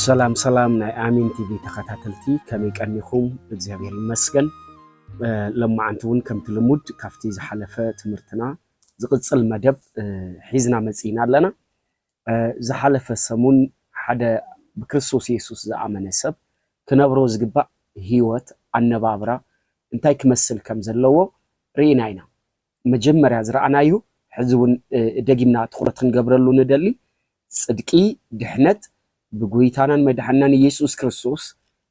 ሰላም ሰላም ናይ ኣሚን ቲቪ ተኸታተልቲ ከመይ ቀኒኹም? እግዚኣብሔር ይመስገን። ሎማዓንቲ እውን ከምቲ ልሙድ ካብቲ ዝሓለፈ ትምህርትና ዝቕፅል መደብ ሒዝና መፂእና ኣለና። ኣብ ዝሓለፈ ሰሙን ሓደ ብክርስቶስ የሱስ ዝኣመነ ሰብ ክነብሮ ዝግባእ ህይወት፣ ኣነባብራ፣ እንታይ ክመስል ከም ዘለዎ ርኢና ኢና። መጀመርያ ዝረኣናዮ ሕዚ እውን ደጊምና ትኹረት ክንገብረሉ ንደሊ ጽድቂ፣ ድሕነት፣ ብጎይታናን መድሓኒናን የሱስ ክርስቶስ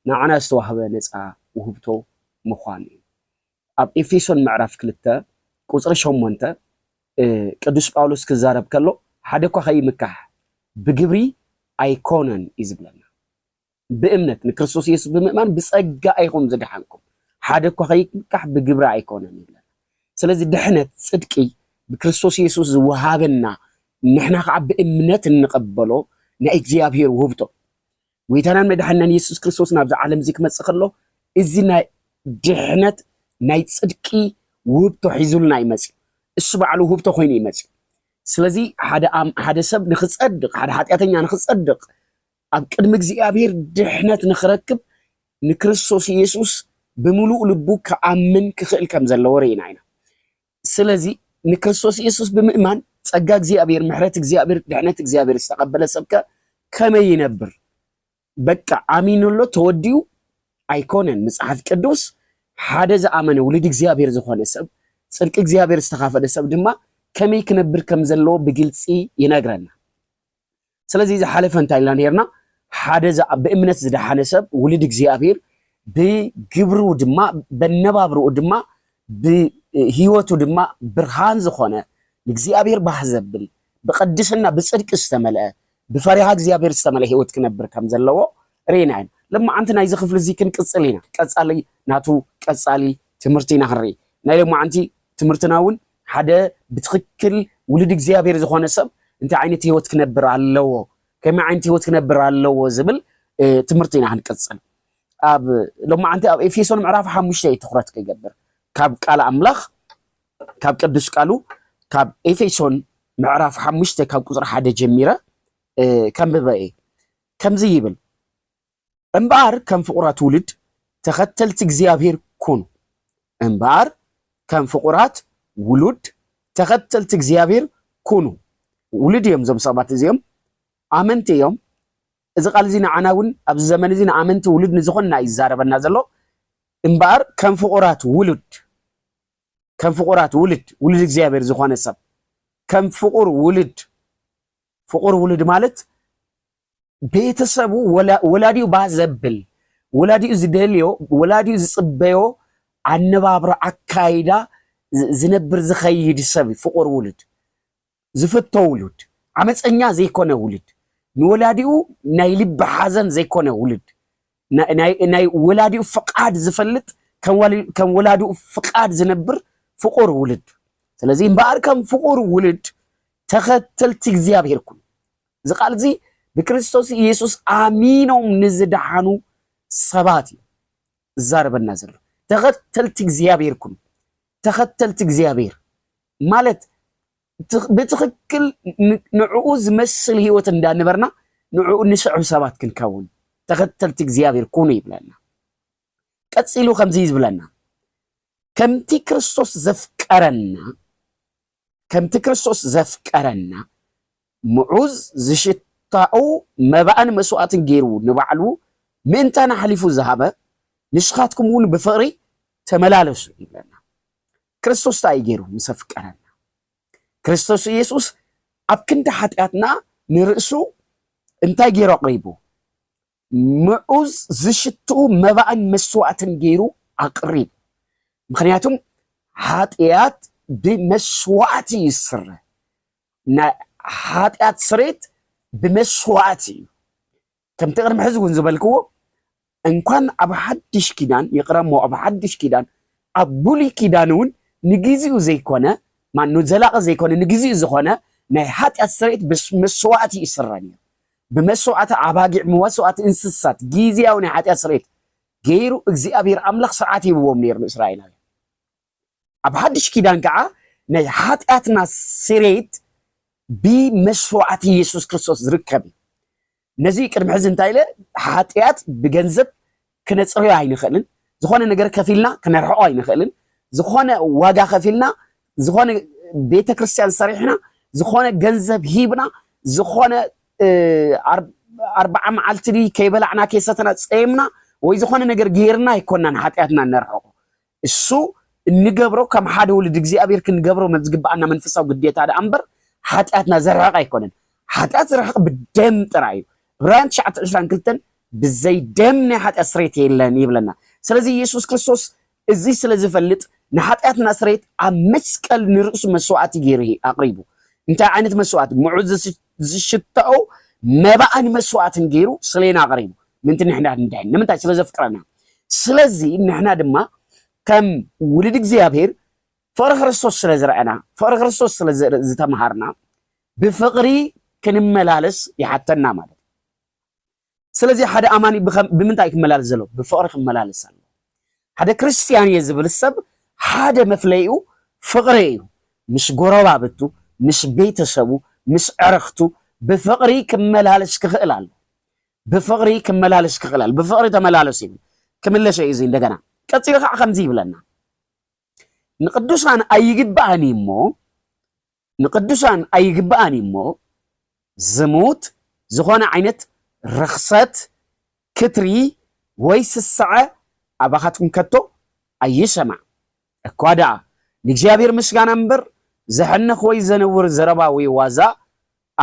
ንዓና ዝተዋህበ ነጻ ውህብቶ ምዃኑ እዩ። ኣብ ኤፌሶን ምዕራፍ ክልተ ቍጽሪ ሸሞንተ ቅዱስ ጳውሎስ ክዛረብ ከሎ ሓደ እኳ ከይምካሕ ብግብሪ ኣይኰነን እዩ ዝብለና። ብእምነት ንክርስቶስ ኢየሱስ ብምእማን ብጸጋ ኢኹም ዝደሓንኩም፣ ሓደ እኳ ከይምካሕ ብግብሪ ኣይኰነን ይብለና። ስለዚ ድሕነት፣ ጽድቂ፣ ብክርስቶስ ኢየሱስ ዝወሃበና ንሕና ከኣ ብእምነት እንቕበሎ ናይ እግዚኣብሔር ውህብቶ ጎይታናን መድሓኒናን የሱስ ክርስቶስ ናብዚ ዓለም እዚ ክመጽእ ከሎ እዚ ናይ ድሕነት ናይ ጽድቂ ውህብቶ ሒዙልና እዩ መጽዩ እሱ ባዕሉ ውህብቶ ኮይኑ እዩ መጽዩ ስለዚ ሓደ ሓደ ሰብ ንክጸድቅ ሓደ ሓጢኣተኛ ንክጸድቅ ኣብ ቅድሚ እግዚኣብሔር ድሕነት ንክረክብ ንክርስቶስ ኢየሱስ ብምሉእ ልቡ ክኣምን ክኽእል ከም ዘለዎ ርኢና ኢና ስለዚ ንክርስቶስ ኢየሱስ ብምእማን ጸጋ እግዚኣብሔር ምሕረት እግዚኣብሔር ድሕነት እግዚኣብሔር ዝተቀበለ ሰብከ ከመይ ይነብር በቃ ኣሚኑሎ ተወዲኡ ኣይኮነን መጽሓፍ ቅዱስ ሓደ ዝኣመነ ውሉድ እግዚኣብሔር ዝኾነ ሰብ ጽድቂ እግዚኣብሔር ዝተኻፈለ ሰብ ድማ ከመይ ክነብር ከም ዘለዎ ብግልፂ ይነግረና ስለዚ ዝሓለፈ እንታይ ኢልና ነርና ሓደ ብእምነት ዝደሓነ ሰብ ውልድ እግዚኣብሔር ብግብሩ ድማ በነባብርኡ ድማ ብህይወቱ ድማ ብርሃን ዝኾነ ንእግዚኣብሔር ባህ ዘብል ብቅድስና ብፅድቂ ዝተመልአ ብፈሪሃ እግዚኣብሔር ዝተመልአ ህይወት ክነብር ከም ዘለዎ ርኢና ኢና ልማዓንቲ ናይዚ ክፍሊ እዚ ክንቅፅል ኢና ቀፃሊ ናቱ ቀፃሊ ትምህርቲ ኢና ክንርኢ ናይ ልማዓንቲ ትምህርትና እውን ሓደ ብትኽክል ውሉድ እግዚኣብሔር ዝኾነ ሰብ እንታይ ዓይነት ህይወት ክነብር ኣለዎ፣ ከመይ ዓይነት ህይወት ክነብር ኣለዎ ዝብል ትምህርቲ ኢና ክንቅጽል። ኣብ ሎማዓንቲ ኣብ ኤፌሶን ምዕራፍ ሓሙሽተ እዩ ትኹረት ክገብር ካብ ቃል ኣምላኽ ካብ ቅዱስ ቃሉ ካብ ኤፌሶን ምዕራፍ ሓሙሽተ ካብ ቁፅሪ ሓደ ጀሚረ ከምበበ እየ ከምዚ ይብል እምበኣር ከም ፍቑራት ውሉድ ተኸተልቲ እግዚኣብሔር ኩኑ። እምበኣር ከም ፍቑራት ውሉድ ተኸተልቲ እግዚኣብሔር ኩኑ። ውሉድ እዮም እዞም ሰባት እዚኦም፣ ኣመንቲ እዮም። እዚ ቃል እዚ ንዓና እውን ኣብዚ ዘመን እዚ ንኣመንቲ ውሉድ ንዝኾንና እዩ ዝዛረበና ዘሎ። እምበኣር ከም ፍቑራት ውሉድ ከም ፍቑራት ውሉድ ውሉድ እግዚኣብሔር ዝኾነ ሰብ ከም ፍቑር ውሉድ ፍቑር ውሉድ ማለት ቤተሰቡ ወላዲኡ ባህ ዘብል ወላዲኡ ዝደልዮ ወላዲኡ ዝፅበዮ ኣነባብሮ ኣካይዳ ዝነብር ዝኸይድ ሰብ ፍቑር ውሉድ ዝፍቶ ውሉድ ዓመፀኛ ዘይኮነ ውሉድ ንወላዲኡ ናይ ልቢ ሓዘን ዘይኮነ ውሉድ ናይ ወላዲኡ ፍቃድ ዝፈልጥ ከም ወላዲኡ ፍቃድ ዝነብር ፍቁር ውልድ ስለዚህ እምበኣር ከም ፍቁር ውልድ ተኸተልቲ እግዚኣብሔር ኩኑ እዚ ቃል እዚ ብክርስቶስ ኢየሱስ ኣሚኖም ንዝደሓኑ ሰባት እዩ ዝዛረበና ዘሎ ተኸተልቲ እግዚኣብሔር ኩኑ ተኸተልቲ እግዚኣብሔር ማለት ብትኽክል ንዕኡ ዝመስል ህይወት እንዳነበርና ንዕኡ ንስዕብ ሰባት ክንከውን ተኸተልቲ እግዚኣብሔር ኩኑ ይብለና። ቀጺሉ ከምዚ ዝብለና ከምቲ ክርስቶስ ዘፍቀረና ከምቲ ክርስቶስ ዘፍቀረና ምዑዝ ዝሽት ታኡ መባእን መስዋእትን ገይሩ ንባዕሉ ምእንታን ኣሕሊፉ ዝሃበ ንስኻትኩም እውን ብፍቕሪ ተመላለሱ ይብለና። ክርስቶስ ታይ እዩ ገይሩ ምስ ኣፍቀረና? ክርስቶስ ኢየሱስ ኣብ ክንዲ ሓጢኣትና ንርእሱ እንታይ ገይሩ ኣቕሪቡ? ምዑዝ ዝሽትኡ መባእን መስዋእትን ገይሩ ኣቕሪቡ። ምክንያቱም ሓጢኣት ብመስዋእቲ እዩ ዝስረ። ናይ ሓጢኣት ስሬት ብመስዋእቲ እዩ። ከምቲ ቅድሚ ሕዚ እውን ዝበልክዎ እንኳን ኣብ ሓድሽ ኪዳን ይቕረ እሞ ኣብ ሓድሽ ኪዳን ኣብ ብሉይ ኪዳን እውን ንግዚኡ ዘይኮነ ማኑ ዘላቂ ዘይኮነ ንግዚኡ ዝኾነ ናይ ሓጢኣት ስርየት ብመስዋእቲ እዩ ዝስረ ነይሩ ብመስዋእቲ ኣባጊዕ መስዋእቲ እንስሳት ግዜያዊ ናይ ሓጢኣት ስርየት ገይሩ እግዚኣብሔር ኣምላኽ ስርዓት ሂብዎም ነይሩ ንእስራኤላውያን ኣብ ሓድሽ ኪዳን ከኣ ናይ ሓጢኣትና ስሬት ብመስዋዕቲ የሱስ ክርስቶስ ዝርከብ እዩ። ነዚ ቅድሚ ሕዚ እንታይ ኢለ ሓጢኣት ብገንዘብ ክነጽርዮ ኣይንኽእልን፣ ዝኾነ ነገር ከፊልና ክነርሕቆ ኣይንኽእልን፣ ዝኾነ ዋጋ ከፊልና ዝኾነ ቤተ ክርስቲያን ሰሪሕና ዝኾነ ገንዘብ ሂብና ዝኾነ ኣርባዓ መዓልቲ ከይበላዕና ከይሰተና ጸይምና ወይ ዝኾነ ነገር ጌርና ኣይኮናን ሓጢኣትና ነርሕቆ እሱ እንገብሮ ከም ሓደ ውሉድ እግዚኣብሔር ክንገብሮ ዝግብኣና መንፈሳዊ ግዴታ ደኣ እምበር ሓጢኣትና ዘርሕቕ ኣይኮነን። ሓጢኣት ዝርሕቕ ብደም ጥራይ እዩ። ዕብራውያን ትሽዓተ ዕስራን ክልተን ብዘይ ደም ናይ ሓጢኣት ስሬት የለን ይብለና። ስለዚ ኢየሱስ ክርስቶስ እዚ ስለ ዝፈልጥ ንሓጢኣትና ስሬት ኣብ መስቀል ንርእሱ መስዋእቲ ገይሩ ኣቕሪቡ። እንታይ ዓይነት መስዋእቲ? ምዑዝ ዝሽታኡ መባእን መስዋእትን ገይሩ ስሌና ኣቕሪቡ ምንቲ ንሕና ንድሕን ንምንታይ ስለ ዘፍቅረና ስለዚ ንሕና ድማ ከም ውልድ እግዚኣብሔር ፍቕሪ ክርስቶስ ስለ ዝረአና ፍቕሪ ክርስቶስ ስለ ዝተምሃርና ብፍቕሪ ክንመላለስ ይሓተና ማለት ስለዚ ሓደ ኣማኒ ብኸም ብምንታይ እዩ ክመላለስ ዘለዎ? ብፍቕሪ ክመላለስ ኣለዎ። ሓደ ክርስትያን እየ ዝብል ሰብ ሓደ መፍለይኡ ፍቕሪ እዩ። ምስ ጎረባብቱ፣ ምስ ቤተሰቡ፣ ምስ ኣዕርኽቱ ብፍቕሪ ክመላለስ ክኽእል ኣለዎ። ብፍቕሪ ክመላለስ ክኽእል ኣለዎ። ብፍቕሪ ተመላለሱ ይብል። ክምለሶ እዩ እዚ እንደገና። ቀጺሉ ከዓ ከምዚ ይብለና ንቅዱሳን ኣይግባእን እዩ እሞ ንቅዱሳን ኣይግብኣን እዩ እሞ ዝሙት፣ ዝኾነ ዓይነት ርኽሰት፣ ክትሪ ወይ ስስዐ ኣባኻትኩም ከቶ ኣይሰማዕ። እኳ ደኣ ንእግዚኣብሔር ምስጋና እምበር ዘሕንኽ ወይ ዘንውር ዘረባ ወይ ዋዛ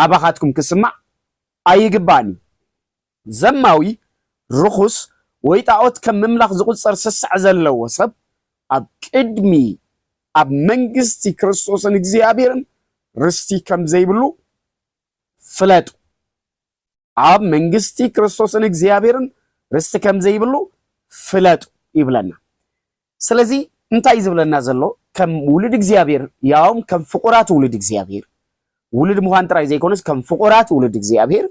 ኣባኻትኩም ክስማዕ ኣይግብኣን እዩ። ዘማዊ፣ ርኹስ፣ ወይ ጣኦት ከም ምምላኽ ዝቑጸር ስስዐ ዘለዎ ሰብ፣ ኣብ ቅድሚ ኣብ መንግስቲ ክርስቶስን እግዚኣብሔርን ርስቲ ከም ዘይብሉ ፍለጡ። ኣብ መንግስቲ ክርስቶስን እግዚኣብሔርን ርስቲ ከም ዘይብሉ ፍለጡ ይብለና። ስለዚ እንታይ እዩ ዝብለና ዘሎ ከም ውሉድ እግዚኣብሔር ያውም ከም ፍቑራት ውሉድ እግዚኣብሔር ውሉድ ምዃን ጥራይ ዘይኮነስ ከም ፍቑራት ውሉድ እግዚኣብሔር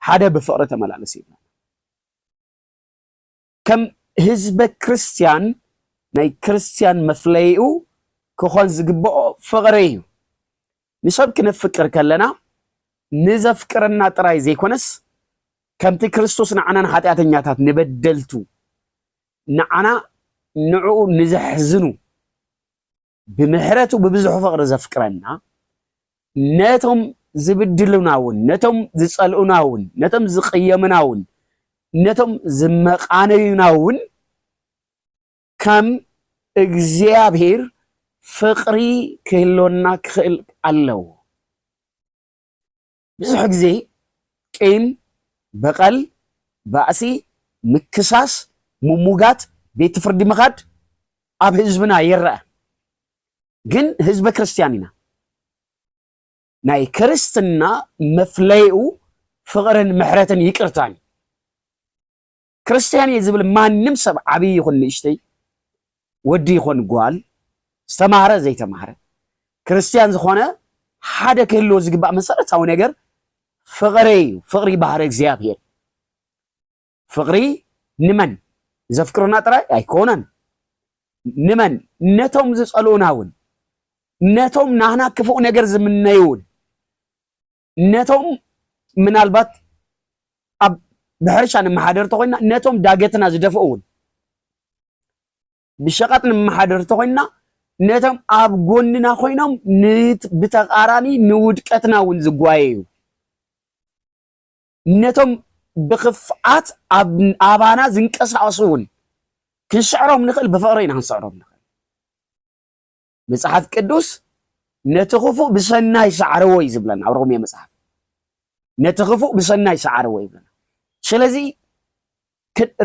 ሓደ ብፍቕሪ ተመላለስ ይብለና ከም ህዝበ ክርስቲያን ናይ ክርስቲያን መፍለይኡ ክኾን ዝግብኦ ፍቕሪ እዩ ንሰብ ክነፍቅር ከለና ንዘፍቅረና ጥራይ ዘይኮነስ ከምቲ ክርስቶስ ንዓናን ኃጢኣተኛታት ንበደልቱ ንዓና ንዕኡ ንዘሕዝኑ ብምሕረቱ ብብዙሕ ፍቕሪ ዘፍቅረና ነቶም ዝብድሉና እውን ነቶም ዝጸልኡና እውን ነቶም ዝቕየሙና እውን ነቶም ዝመቓነዩና እውን ከም እግዚኣብሔር ፍቕሪ ክህልወና ክኽእል ኣለዎ። ብዙሕ ግዜ ቂም በቐል፣ ባእሲ፣ ምክሳስ፣ ምሙጋት፣ ቤት ፍርዲ ምኻድ ኣብ ህዝብና ይረኣ። ግን ህዝበ ክርስትያን ኢና። ናይ ክርስትና መፍለይኡ ፍቕርን ምሕረትን ይቅርታን እዩ። ክርስትያን እየ ዝብል ማንም ሰብ ዓብዪ ይኹን ንእሽተይ ወዲ ይኹን ጓል ዝተማህረ ዘይተማህረ ክርስትያን ዝኾነ ሓደ ክህልዎ ዝግባእ መሰረታዊ ነገር ፍቕሪ እዩ። ፍቕሪ ባህሪ እግዚኣብሔር ፍቕሪ ንመን ዘፍቅሩና ጥራይ ኣይኮነን፣ ንመን ነቶም ዝጸልኡና እውን ነቶም ናህና ክፉእ ነገር ዝምነዩ እውን ነቶም ምናልባት ኣብ ብሕርሻ ንመሓደር ተኾይና ነቶም ዳገትና ዝደፍኡ እውን ብሸቐጥ ንመሓደር ተኾይና ነቶም ኣብ ጎንና ኮይኖም ብተቃራኒ ንውድቀትና እውን ዝጓየዩ ነቶም ብክፍኣት ኣባና ዝንቀሳቀሱ እውን ክንስዕሮም ንኽእል ብፍቅሪ ኢና ክንስዕሮም ንኽእል መጽሓፍ ቅዱስ ነቲ ክፉእ ብሰናይ ሰዓርዎ እዩ ዝብለና ኣብ ሮሜ መጽሓፍ ነቲ ክፉእ ብሰናይ ሰዓርዎ ይብለና ስለዚ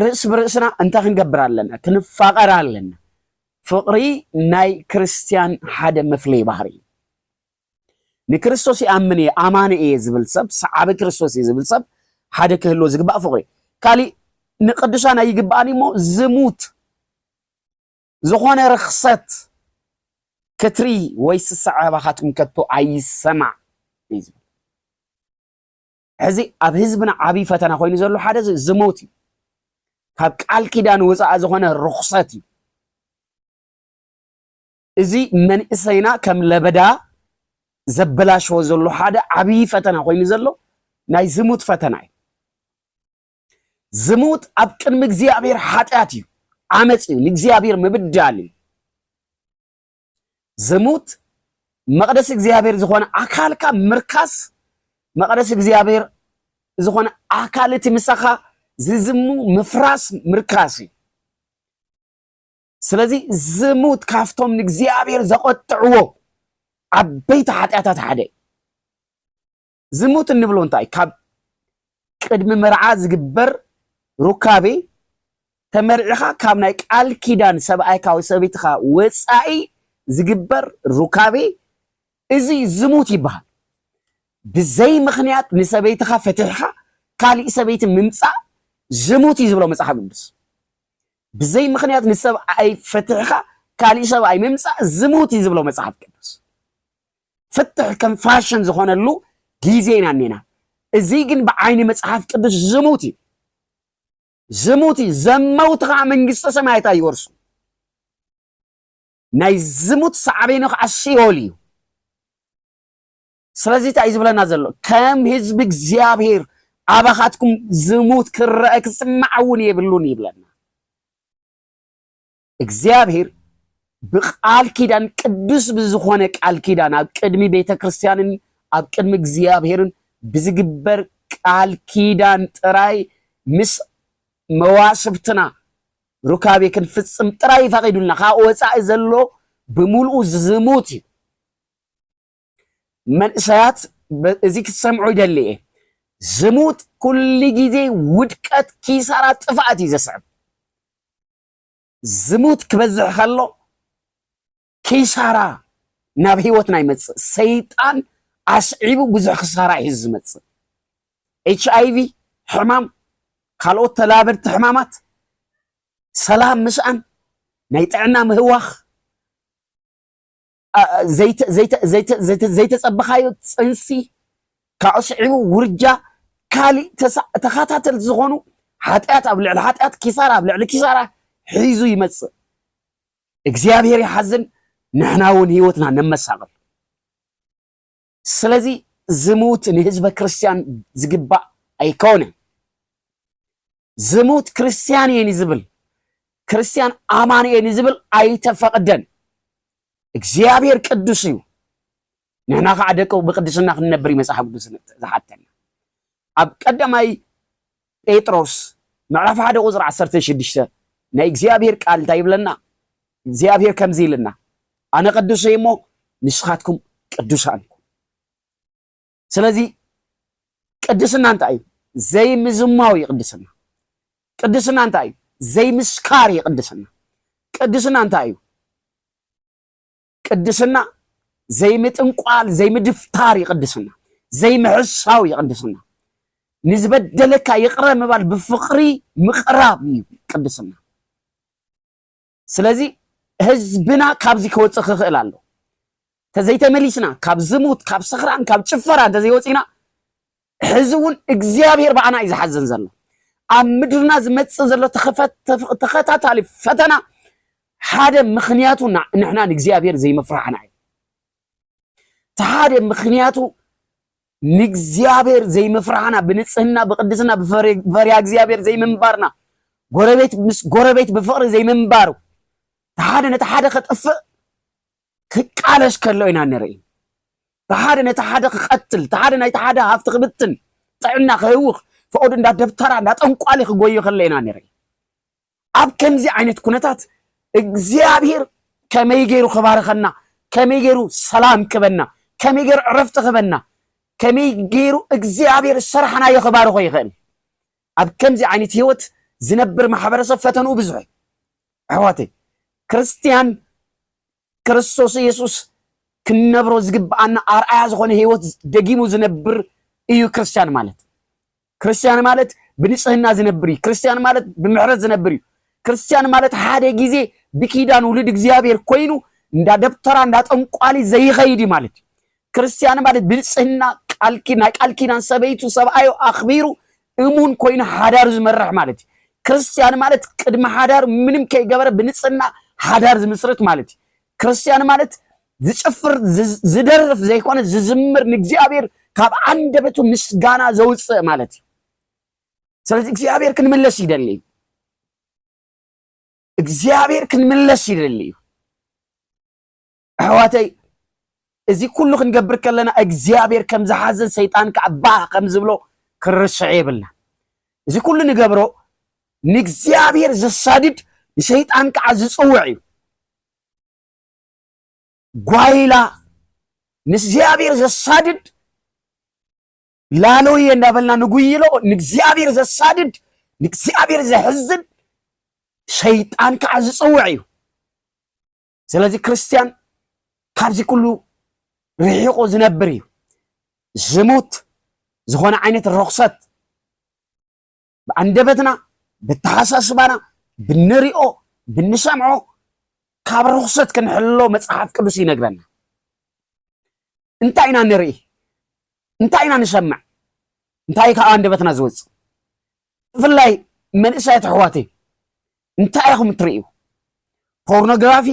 ርእስ ብርእስና እንታይ ክንገብር ኣለና ክንፋቐር ኣለና ፍቕሪ ናይ ክርስትያን ሓደ መፍለይ ባህሪ እዩ ንክርስቶስ ይኣምን እየ ኣማኒ እየ ዝብል ሰብ ሰዓቢ ክርስቶስ እዩ ዝብል ሰብ ሓደ ክህልዎ ዝግባእ ፍቕሪ እዩ ካሊእ ንቅዱሳን ኣይግባኣን እሞ ዝሙት ዝኾነ ርኽሰት ክትሪ ወይ ስስዐ ኣባኻትኩም ከቶ ኣይሰማዕ እዩ ዝብል ሕዚ ኣብ ህዝብና ዓብዪ ፈተና ኮይኑ ዘሎ ሓደ ዝሞት እዩ ካብ ቃል ኪዳን ወፃኢ ዝኾነ ርኹሰት እዩ እዚ መንእሰይና ከም ለበዳ ዘበላሸዎ ዘሎ ሓደ ዓብዪ ፈተና ኮይኑ ዘሎ ናይ ዝሙት ፈተና እዩ ዝሙት ኣብ ቅድሚ እግዚኣብሔር ሓጢኣት እዩ ዓመፅ እዩ ንእግዚኣብሔር ምብዳል እዩ ዝሙት መቅደስ እግዚኣብሔር ዝኾነ ኣካልካ ምርካስ መቅደስ እግዚኣብሔር ዝኾነ ኣካል እቲ ምሳኻ ዝዝሙ ምፍራስ ምርካስ እዩ ስለዚ ዝሙት ካፍቶም ንእግዚኣብሔር ዘቆጥዕዎ ዓበይቲ ሓጢኣታት ሓደ እዩ ዝሙት እንብሎ እንታይ ካብ ቅድሚ መርዓ ዝግበር ሩካቤ ተመርዒኻ ካብ ናይ ቃል ኪዳን ሰብኣይካ ወይ ሰበይትኻ ወፃኢ ዝግበር ሩካቤ እዚ ዝሙት ይበሃል። ብዘይ ምክንያት ንሰበይትኻ ፈትሕኻ ካሊእ ሰበይቲ ምምፃእ ዝሙት እዩ ዝብሎ መፅሓፍ ቅዱስ። ብዘይ ምክንያት ንሰብኣይ ፈትሕኻ ካሊእ ሰብኣይ ምምፃእ ዝሙት እዩ ዝብሎ መፅሓፍ ቅዱስ። ፍትሕ ከም ፋሽን ዝኾነሉ ግዜ ኢና እኔና። እዚ ግን ብዓይኒ መጽሓፍ ቅዱስ ዝሙት እዩ። ዝሙት እዩ። ዘመውቲ ከዓ መንግስተ ሰማያት ኣይወርሱ። ናይ ዝሙት ሳዕቤኑ ከዓ ሲኦል እዩ። ስለዚ እንታይ ዝብለና ዘሎ ከም ህዝቢ እግዚኣብሔር ኣባኻትኩም ዝሙት ክረአ ክስማዕ እውን የብሉን ይብለና። እግዚኣብሔር ብቃል ኪዳን ቅዱስ ብዝኾነ ቃል ኪዳን ኣብ ቅድሚ ቤተ ክርስቲያንን ኣብ ቅድሚ እግዚኣብሔርን ብዝግበር ቃል ኪዳን ጥራይ ምስ መዋስብትና ሩካቤ ክንፍጽም ጥራይ ይፈቂዱልና ካብ ወፃኢ ዘሎ ብምልኡ ዝሙት እዩ መንእሰያት እዚ ክትሰምዑ ይደሊ እየ ዝሙት ኩሉ ግዜ ውድቀት ኪሳራ ጥፍኣት እዩ ዘስዕብ ዝሙት ክበዝሕ ከሎ ኪሳራ ናብ ህይወትና ይመፅእ ሰይጣን ኣስዒቡ ብዙሕ ክሳራ እዩ ዝመፅእ ኤች ኣይቪ ሕማም ካልኦት ተላበድቲ ሕማማት ሰላም ምስኣን ናይ ጥዕና ምህዋኽ ዘይተፀበኻዮ ፅንሲ ካብኡ ስዒቡ ውርጃ ካሊእ ተኸታተልቲ ዝኾኑ ሓጢኣት ኣብ ልዕሊ ሓጢኣት ኪሳራ ኣብ ልዕሊ ኪሳራ ሒዙ ይመፅእ እግዚኣብሔር ይሓዝን ንሕና እውን ህይወትና ነመሳቕል ስለዚ ዝሙት ንህዝበ ክርስትያን ዝግባእ ኣይኮነን። ዝሙት ክርስትያን እየ ንዝብል ክርስትያን ኣማን እየ ንዝብል ኣይተፈቕደን። እግዚኣብሔር ቅዱስ እዩ። ንሕና ከዓ ደቂ ብቅድስና ክንነብር እዩ መፅሓፍ ቅዱስ ዝሓተና። ኣብ ቀዳማይ ጴጥሮስ ምዕራፍ ሓደ ቁፅሪ ዓሰርተ ሽዱሽተ ናይ እግዚኣብሔር ቃል እንታይ ይብለና? እግዚኣብሔር ከምዚ ኢልና ኣነ ቅዱስ እየ እሞ ንስኻትኩም ቅዱሳን ኩኑ። ስለዚ ቅድስና እንታይ እዩ? ዘይምዝማው እዩ ቅድስና። ቅድስና እንታይ እዩ? ዘይምስካር እዩ ቅድስና። ቅድስና እንታይ እዩ? ቅድስና ዘይምጥንቋል ዘይምድፍታር ይቅድስና ዘይምሕሳው ይቅድስና ንዝበደለካ ይቅረ ምባል ብፍቅሪ ምቅራብ እዩ ቅድስና ስለዚ ህዝብና ካብዚ ክወፅእ ክኽእል ኣሎ ተዘይተመሊስና ካብ ዝሙት ካብ ስኽራን ካብ ጭፈራ እንተዘይወፂና ሕዚ እውን እግዚኣብሔር ብኣና እዩ ዝሓዘን ዘሎ ኣብ ምድርና ዝመፅእ ዘሎ ተኸታታሊ ፈተና ሓደ ምክንያቱ ንሕና ንእግዚኣብሔር ዘይምፍራሕና እዩ እቲ ሓደ ምክንያቱ ንእግዚኣብሔር ዘይምፍራሕና ብንፅህና ብቅድስና ብፈሪያ እግዚኣብሔር ዘይምንባርና ጎረቤት ምስ ጎረቤት ብፍቅሪ ዘይምንባሩ እቲ ሓደ ነቲ ሓደ ከጥፍእ ክቃለስ ከሎ ኢና ንርኢ። እቲ ሓደ ነቲ ሓደ ክቐትል፣ እቲ ሓደ ናይቲ ሓደ ሃፍቲ ክብትን፣ ጥዕና ክህውኽ፣ ፍቐዱ እንዳ ደብተራ እንዳ ጠንቋሊ ክጎዩ ከሎ ኢና ንርኢ። ኣብ ከምዚ ዓይነት ኩነታት እግዚኣብሔር ከመይ ገይሩ ክባርኸና፣ ከመይ ገይሩ ሰላም ክበና፣ ከመይ ገይሩ ዕረፍቲ ክበና፣ ከመይ ገይሩ እግዚኣብሔር ስራሕናዮ ክባርኾ ይኽእል? ኣብ ከምዚ ዓይነት ህይወት ዝነብር ማሕበረሰብ ፈተንኡ ብዙሕ እዩ። ኣሕዋተይ ክርስትያን ክርስቶስ ኢየሱስ ክንነብሮ ዝግብኣና ኣርኣያ ዝኾነ ህይወት ደጊሙ ዝነብር እዩ ክርስትያን ማለት። ክርስትያን ማለት ብንጽህና ዝነብር እዩ። ክርስትያን ማለት ብምሕረት ዝነብር እዩ። ክርስትያን ማለት ሓደ ግዜ ብኪዳን ውሉድ እግዚኣብሔር ኮይኑ እንዳ ደብተራ እንዳ ጠንቋሊ ዘይኸይድ ማለት እዩ። ክርስትያን ማለት ብንጽህና ቃልኪ ናይ ቃል ኪዳን ሰበይቱ ሰብኣዩ ኣኽቢሩ እሙን ኮይኑ ሓዳር ዝመርሕ ማለት እዩ። ክርስትያን ማለት ቅድሚ ሓዳር ምንም ከይገበረ ብንጽህና ሓዳር ዝምስርት ማለት እዩ። ክርስትያን ማለት ዝጭፍር ዝደርፍ ዘይኮነ ዝዝምር ንእግዚኣብሔር ካብ ዓንደበቱ ምስጋና ዘውፅእ ማለት እዩ ስለዚ እግዚኣብሔር ክንምለስ ይደሊ እዩ እግዚኣብሔር ክንምለስ ይደሊ እዩ ኣሕዋተይ እዚ ኩሉ ክንገብር ከለና እግዚኣብሔር ከም ዝሓዘን ሰይጣን ከዓ ባህ ከም ዝብሎ ክንርስዕ የብልና እዚ ኩሉ ንገብሮ ንእግዚኣብሔር ዘሳድድ ንሰይጣን ከዓ ዝፅውዕ እዩ ጓይላ ንእግዚኣብሔር ዘሳድድ ላሎየ እንዳበልና ንጉይሎ ንእግዚኣብሔር ዘሳድድ ንእግዚኣብሔር ዘሕዝን ሰይጣን ከዓ ዝፅውዕ እዩ ስለዚ ክርስትያን ካብዚ ኩሉ ርሒቑ ዝነብር እዩ። ዝሙት ዝኾነ ዓይነት ርኽሰት ብኣንደበትና ብተሓሳስባና ብንሪኦ ብንሰምዖ ካብ ርኽሰት ክንሕሎ መፅሓፍ ቅዱስ ይነግረና። እንታይ ኢና ንርኢ? እንታይ ኢና ንሰምዕ? እንታይ ካብ ኣንደበትና ዝወጽእ? ብፍላይ መንእሰያት ኣሕዋተይ እንታይ ኢኹም እትርእዩ? ፖርኖግራፊ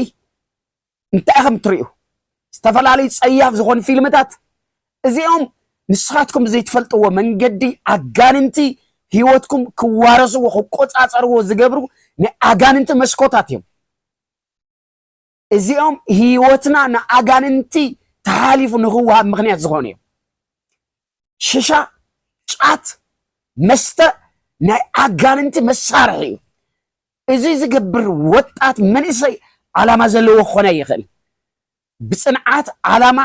እንታይ ኢኹም እትርእዩ? ዝተፈላለዩ ጸያፍ ዝኾኑ ፊልምታት እዚኦም ንስኻትኩም ዘይትፈልጥዎ መንገዲ ኣጋንንቲ ህይወትኩም ክዋረስዎ ክቆጻጸርዎ ዝገብሩ ናይ ኣጋንንቲ መስኮታት እዮም። እዚኦም ህይወትና ንኣጋንንቲ ተሓሊፉ ንክወሃብ ምክንያት ዝኾኑ እዮም። ሽሻ፣ ጫት፣ መስተ ናይ ኣጋንንቲ መሳርሒ እዩ። እዚ ዝገብር ወጣት መንእሰይ ዓላማ ዘለዎ ክኾነ ይኽእል። ብፅንዓት ዓላማ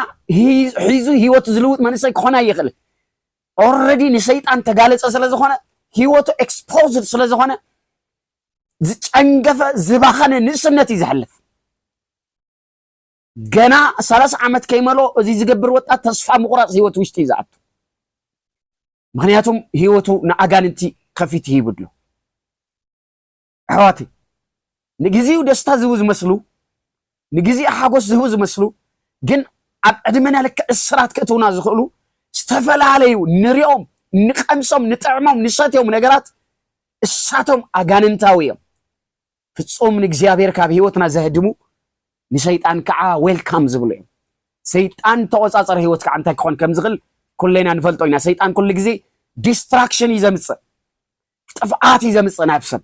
ሒዙ ህይወቱ ዝልውጥ መንእሰይ ክኾነ ይኽእል። ኦልሬዲ ንሰይጣን ተጋለፀ ስለዝኾነ ህይወቱ ኤክስፖዝድ ስለዝኾነ ዝጨንገፈ ዝባኸነ ንእስነት እዩ ዘሕልፍ። ገና ሰላሳ ዓመት ከይመልኦ እዚ ዝገብር ወጣት ተስፋ ምቑራፅ ህይወት ውሽጢ እዩ ዝኣቱ። ምክንያቱም ህይወቱ ንኣጋንንቲ ከፊት ይህብ ኣሎ። ኣሕዋት ንግዚኡ ደስታ ዝቡ ዝመስሉ ንግዜ ሓጎስ ዝህቡ ዝመስሉ ግን ኣብ ዕድመና ልክዕ እስራት ክእትውና ዝኽእሉ ዝተፈላለዩ ንሪኦም፣ ንቀምሶም፣ ንጥዕሞም፣ ንሰትዮም ነገራት እሳቶም ኣጋንንታዊ እዮም። ፍጹም ንእግዚኣብሔር ካብ ህይወትና ዘህድሙ ንሰይጣን ከዓ ዌልካም ዝብሉ እዮም። ሰይጣን ተቆጻጸሪ ህይወት ከዓ እንታይ ክኾን ከም ዝኽእል ኩሌና ንፈልጦ ኢና። ሰይጣን ኩሉ ግዜ ዲስትራክሽን እዩ ዘምጽእ። ጥፍኣት እዩ ዘምጽእ ናብ ሰብ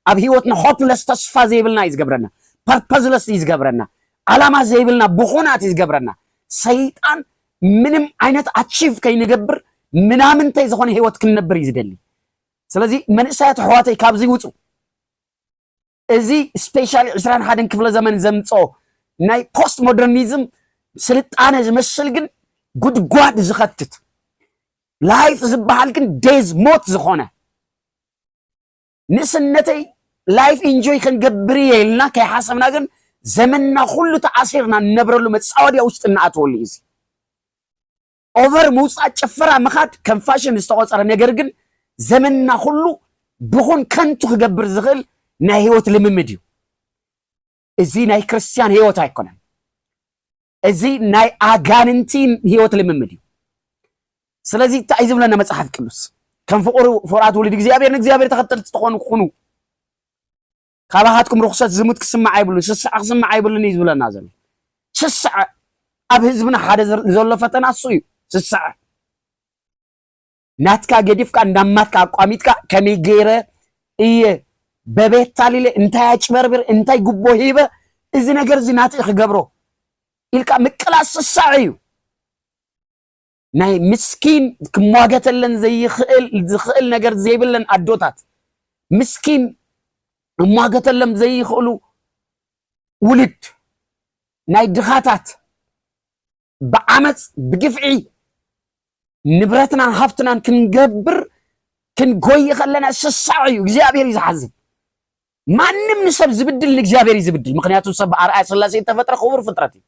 ኣብ ሂወትና ሆፕለስ ተስፋ ዘይብልና እዩ ዝገብረና ፐርፐዝለስ እዩ ዝገብረና ዓላማ ዘይብልና ብኹናት እዩ ዝገብረና ሰይጣን ምንም ዓይነት ኣቺቭ ከይንገብር ምናምንተይ ዝኾነ ሂወት ክንነብር እዩ ዝደሊ ስለዚ መንእሰያት ኣሕዋተይ ካብዚ ውጹ እዚ ስፔሻሊ ዕስራን ሓደን ክፍለ ዘመን ዘምጽኦ ናይ ፖስት ሞደርኒዝም ስልጣነ ዝመስል ግን ጉድጓድ ዝኸትት ላይፍ ዝበሃል ግን ዴዝ ሞት ዝኾነ ንእስነተይ ላይፍ ኢንጆይ ክንገብር እየ ኢልና ከይሓሰብና ግን ዘመንና ኩሉ ተኣሲርና እንነብረሉ መፃወድያ ውሽጢ እናኣተወሉ እዩ እዚ ኦቨር ምውፃእ ጭፈራ ምኻድ ከም ፋሽን ዝተቆፀረ ነገር ግን ዘመንና ኩሉ ብኹን ከንቱ ክገብር ዝኽእል ናይ ህይወት ልምምድ እዩ እዚ ናይ ክርስትያን ህይወት ኣይኮነን እዚ ናይ ኣጋንንቲ ህይወት ልምምድ እዩ ስለዚ እንታይ እዩ ዝብለና መፅሓፍ ቅዱስ ከም ፍቁር ፍቁራት ውሉድ እግዚኣብሔር ንእግዚኣብሔር ተኸተልቲ ትኾኑ ኩኑ ካባኻትኩም ርኹሰት ዝሙት ክስማዕ ኣይብሉን ስስዐ ክስማዕ ኣይብሉን እዩ ዝብለና ዘሎ ስስዐ ኣብ ህዝብና ሓደ ዘሎ ፈተና እሱ እዩ ስስዐ ናትካ ገዲፍካ እንዳማትካ ኣቋሚጥካ ከመይ ገይረ እየ በቤት ታሊለ እንታይ ኣጭበርብር እንታይ ጉቦ ሂበ እዚ ነገር እዚ ናትኢ ክገብሮ ኢልካ ምቅላስ ስሳዕ እዩ ናይ ምስኪን ክሟገተለን ዘይኽእል ዝኽእል ነገር ዘይብለን ኣዶታት ምስኪን እሟገተሎም ዘይኽእሉ ውልድ ናይ ድኻታት ብዓመፅ ብግፍዒ ንብረትናን ሃፍትናን ክንገብር ክንጎይ ከለና ስሳዕ እዩ እግዚኣብሔር እዩ ዝሓዝን ማንም ንሰብ ዝብድል ንእግዚኣብሔር እዩ ዝብድል። ምክንያቱ ሰብ ብኣርኣያ ስላሴ እተፈጥረ ክቡር ፍጥረት እዩ።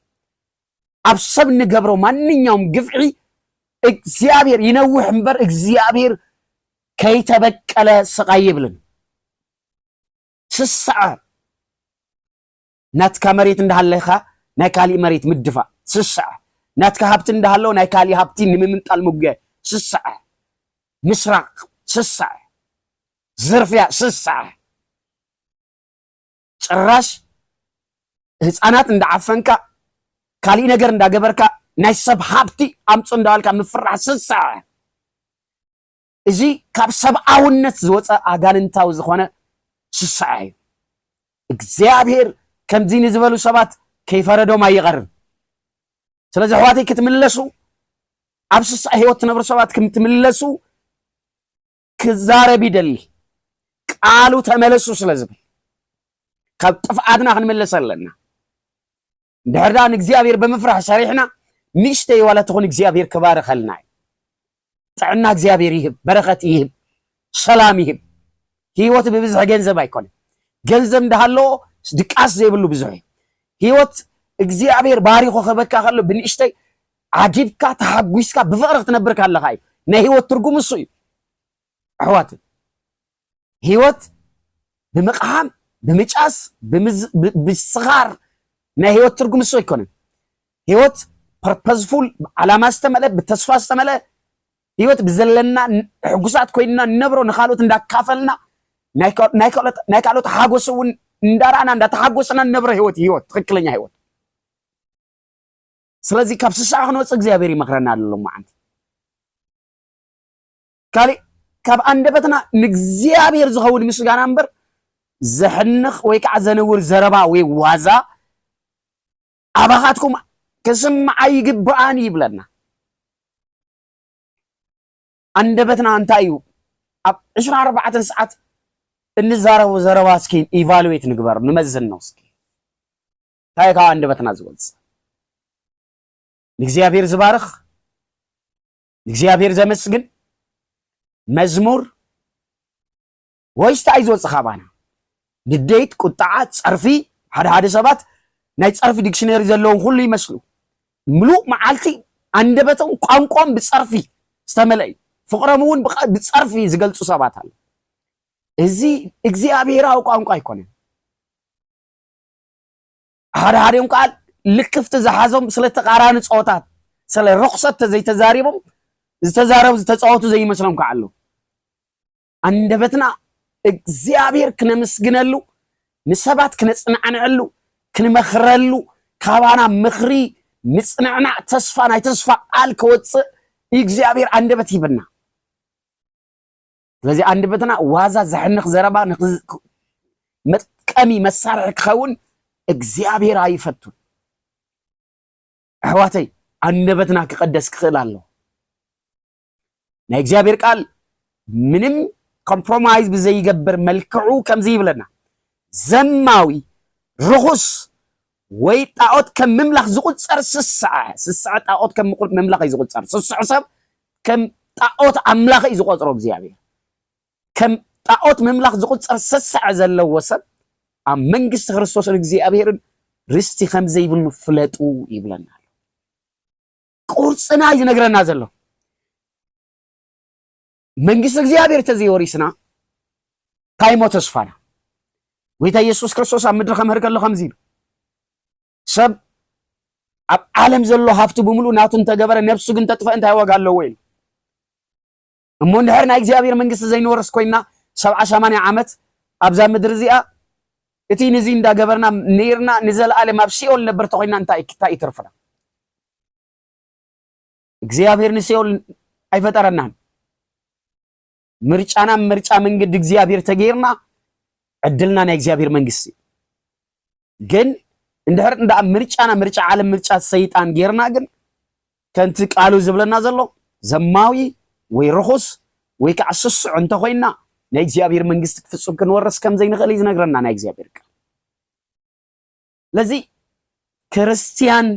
ኣብ ሰብ ንገብሮ ማንኛውም ግፍዒ እግዚኣብሔር ይነውሕ እምበር እግዚኣብሔር ከይተበቀለ ስቃይ ይብልን ስስዐ ናትካ መሬት እንዳሃለኻ ናይ ካሊእ መሬት ምድፋእ ስስዐ፣ ናትካ ሃብቲ እንዳሃለወ ናይ ካሊእ ሃብቲ ንምምንጣል ምጉያይ ስስዐ፣ ምስራቕ ስስዐ፣ ዝርፍያ ስስዐ፣ ጭራሽ ህፃናት እንዳዓፈንካ ካሊእ ነገር እንዳገበርካ ናይ ሰብ ሃብቲ ኣምፁ እንዳበልካ ምፍራሕ ስስዐ። እዚ ካብ ሰብኣውነት ዝወፀ ኣጋንንታዊ ዝኾነ ስስዐ እዩ። እግዚኣብሔር ከምዚ ንዝበሉ ሰባት ከይፈረዶም ኣይቐርን። ስለዚ ኣሕዋተይ ክትምለሱ ኣብ ስስዐ ህይወት ትነብሩ ሰባት ክትምለሱ ክዛረብ ይደሊ ቃሉ ተመለሱ ስለ ዝብል ካብ ጥፍኣትና ክንምለስ ኣለና። እንድሕር ደኣ ንእግዚኣብሔር ብምፍራሕ ሰሪሕና ንእሽተይ ዋላ ትኹን እግዚኣብሔር ክባርኸልና እዩ። ጥዕና እግዚኣብሔር ይህብ፣ በረኸት ይህብ፣ ሰላም ይህብ። ህይወት ብብዝሒ ገንዘብ ኣይኮነን። ገንዘብ እንዳሃለዎ ድቃስ ዘይብሉ ብዙሕ እዩ። ህይወት እግዚኣብሔር ባሪኾ ክህበካ ከሎ ብንእሽተይ ዓጊብካ ተሓጒስካ ብፍቕሪ ክትነብር ካለኻ እዩ። ናይ ህይወት ትርጉም እሱ እዩ። ኣሕዋት ህይወት ብምቕሃም ብምጫስ ብስኻር ናይ ህይወት ትርጉም እሱ ኣይኮነን። ህይወት ፐርፐዝፉል ዓላማ ዝተመልአ ብተስፋ ዝተመልአ ህይወት ብዘለና ሕጉሳት ኮይንና ንነብሮ ንካልኦት እንዳካፈልና ናይ ካልኦት ሓጎስ እውን እንዳረኣና እንዳተሓጎስና ንነብሮ ህይወት ህይወት ትክክለኛ ህይወት ስለዚ ካብ ስስዓ ክንወፅእ እግዚኣብሔር ይመክረና ኣሎ መዓንቲ ካሊእ ካብ ኣንደበትና ንእግዚኣብሔር ዝኸውን ምስጋና እምበር ዘሕንኽ ወይ ከዓ ዘንውር ዘረባ ወይ ዋዛ ኣባኻትኩም ክስምዓ ይግብኣን ይብለና። ኣንደበትና እንታይ እዩ ኣብ ዕስራ ኣርባዕተ ሰዓት እንዛረቡ ዘረባ እስኪ ኢቫሉዌት ንግበር ንመዝን ነው እስኪ እንታይ ካብ ኣንደበትና ዝወፅ ንእግዚኣብሔር ዝባርኽ ንእግዚኣብሔር ዘመስግን መዝሙር ወይስ እንታይ እዩ ዝወፅእ ካባና ንዴት ቁጣዓ ፀርፊ ሓደ ሓደ ሰባት ናይ ፀርፊ ዲክሽነሪ ዘለዎም ኩሉ ይመስሉ ምሉእ መዓልቲ ኣንደበቶም ቋንቋም ብፀርፊ ዝተመለእ እዩ ፍቕሮም እውን ብፀርፊ ዝገልፁ ሰባት ኣለ እዚ እግዚኣብሔራዊ ቋንቋ ኣይኮነን ሓደሓዲኦም ከዓ ልክፍቲ ዝሓዞም ስለ ተቃራኒ ፀወታት ስለ ርክሰት ተዘይተዛሪቦም ዝተዛረቡ ዝተፃወቱ ዘይመስሎም ከዓ ኣለዉ ኣንደበትና እግዚኣብሔር ክነምስግነሉ ንሰባት ክነፅናዕንዐሉ ክንመክረሉ ካባና ምክሪ ምፅንዕናዕ ተስፋ ናይ ተስፋ ቃል ከወፅእ እግዚኣብሔር ኣንደበት ሂብና ስለዚ ኣንደበትና ዋዛ ዘሕንኽ ዘረባ መጥቀሚ መሳርሒ ክኸውን እግዚኣብሔር ኣይፈቱን። ኣሕዋተይ ኣንደበትና ክቐደስ ክኽእል ኣለዎ። ናይ እግዚኣብሔር ቃል ምንም ኮምፕሮማይዝ ብዘይገብር መልክዑ ከምዚ ይብለና ዘማዊ ርኹስ ወይ ጣኦት ከም ምምላኽ ዝቑጸር ስስዐ፣ ስስዐ ጣኦት ከም ምምላኽ እዩ ዝቑጸር፣ ስስዑ ሰብ ከም ጣኦት ኣምላኽ እዩ ዝቖጽሮ እግዚኣብሔር፣ ከም ጣኦት ምምላኽ ዝቑጸር ስስዐ ዘለዎ ሰብ ኣብ መንግስቲ ክርስቶስን እግዚኣብሔርን ርስቲ ከም ዘይብሉ ፍለጡ ይብለና ኣሎ። ቁርጽና እዩ ዝነግረና ዘሎ። መንግስቲ እግዚኣብሔር ተዘይወሪስና ታይሞ ተስፋና ጎይታ ኢየሱስ ክርስቶስ ኣብ ምድሪ ከምህር ከሎ ከምዚ ኢሉ ሰብ ኣብ ዓለም ዘሎ ሃፍቲ ብምሉእ ናቱ እንተገበረ ነብሱ ግን ተጥፈ እንታይ ዋጋ ኣለዎ ኢሉ እሞ እንድሕር ናይ እግዚኣብሔር መንግስቲ ዘይንወርስ ኮይና ሰብዓ ሰማንያ ዓመት ኣብዛ ምድሪ እዚኣ እቲ ንዚ እንዳገበርና ነይርና ንዘለኣለም ኣብ ሲኦል ነበር ተኮይና እንታይ እዩ ትርፍና እግዚኣብሔር ንሲኦል ኣይፈጠረናን ምርጫና ምርጫ መንገዲ እግዚኣብሔር ተገይርና ዕድልና ናይ እግዚኣብሔር መንግስቲ ግን እንድሕር እንዳ ምርጫና ምርጫ ዓለም ምርጫ ሰይጣን ገይርና ግን ከምቲ ቃሉ ዝብለና ዘሎ ዘማዊ ወይ ርኹስ ወይ ከዓ ስሱዕ እንተኮይና ናይ እግዚኣብሔር መንግስቲ ክፍፁም ክንወርስ ከምዘይንኽእል እዩ ዝነግረና ናይ እግዚኣብሔር ቃል ስለዚ ክርስትያን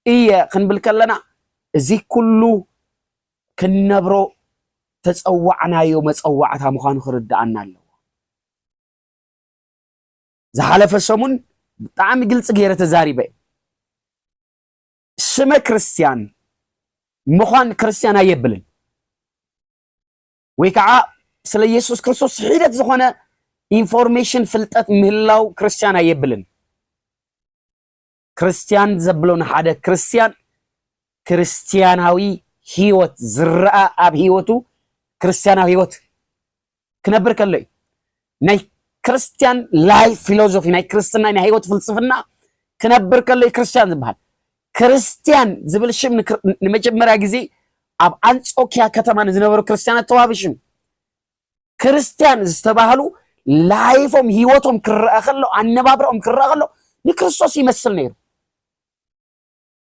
እየ ክንብል ከለና እዚ ኩሉ ክንነብሮ ተፀዋዕናዮ መፀዋዕታ ምዃኑ ክርድኣና ኣለዎ። ዝሓለፈ ሰሙን ብጣዕሚ ግልፂ ገይረ ተዛሪበ ስመ ክርስትያን ምዃን ክርስትያን ኣየብልን። ወይ ከዓ ስለ ኢየሱስ ክርስቶስ ሒደት ዝኾነ ኢንፎርሜሽን ፍልጠት ምህላው ክርስቲያን ኣየብልን ክርስቲያን ዘብሎ ንሓደ ክርስቲያን ክርስቲያናዊ ህይወት ዝረኣ ኣብ ህይወቱ ክርስቲያናዊ ህይወት ክነብር ከሎ እዩ ናይ ክርስትያን ላይፍ ፊሎዞፊ ናይ ክርስትና ናይ ህይወት ፍልስፍና ክነብር ከሎ እዩ ክርስትያን ዝበሃል። ክርስትያን ዝብል ሽም ንክር- ንመጀመርያ ግዜ ኣብ ኣንጾኪያ ከተማ ንዝነበሩ ክርስትያናት ተዋህበ ሽም እዩ። ክርስትያን ዝተባህሉ ላይፎም ህይወቶም ክረአ ከሎ ኣነባብራኦም ክረአ ከሎ ንክርስቶስ ይመስል ነይሩ።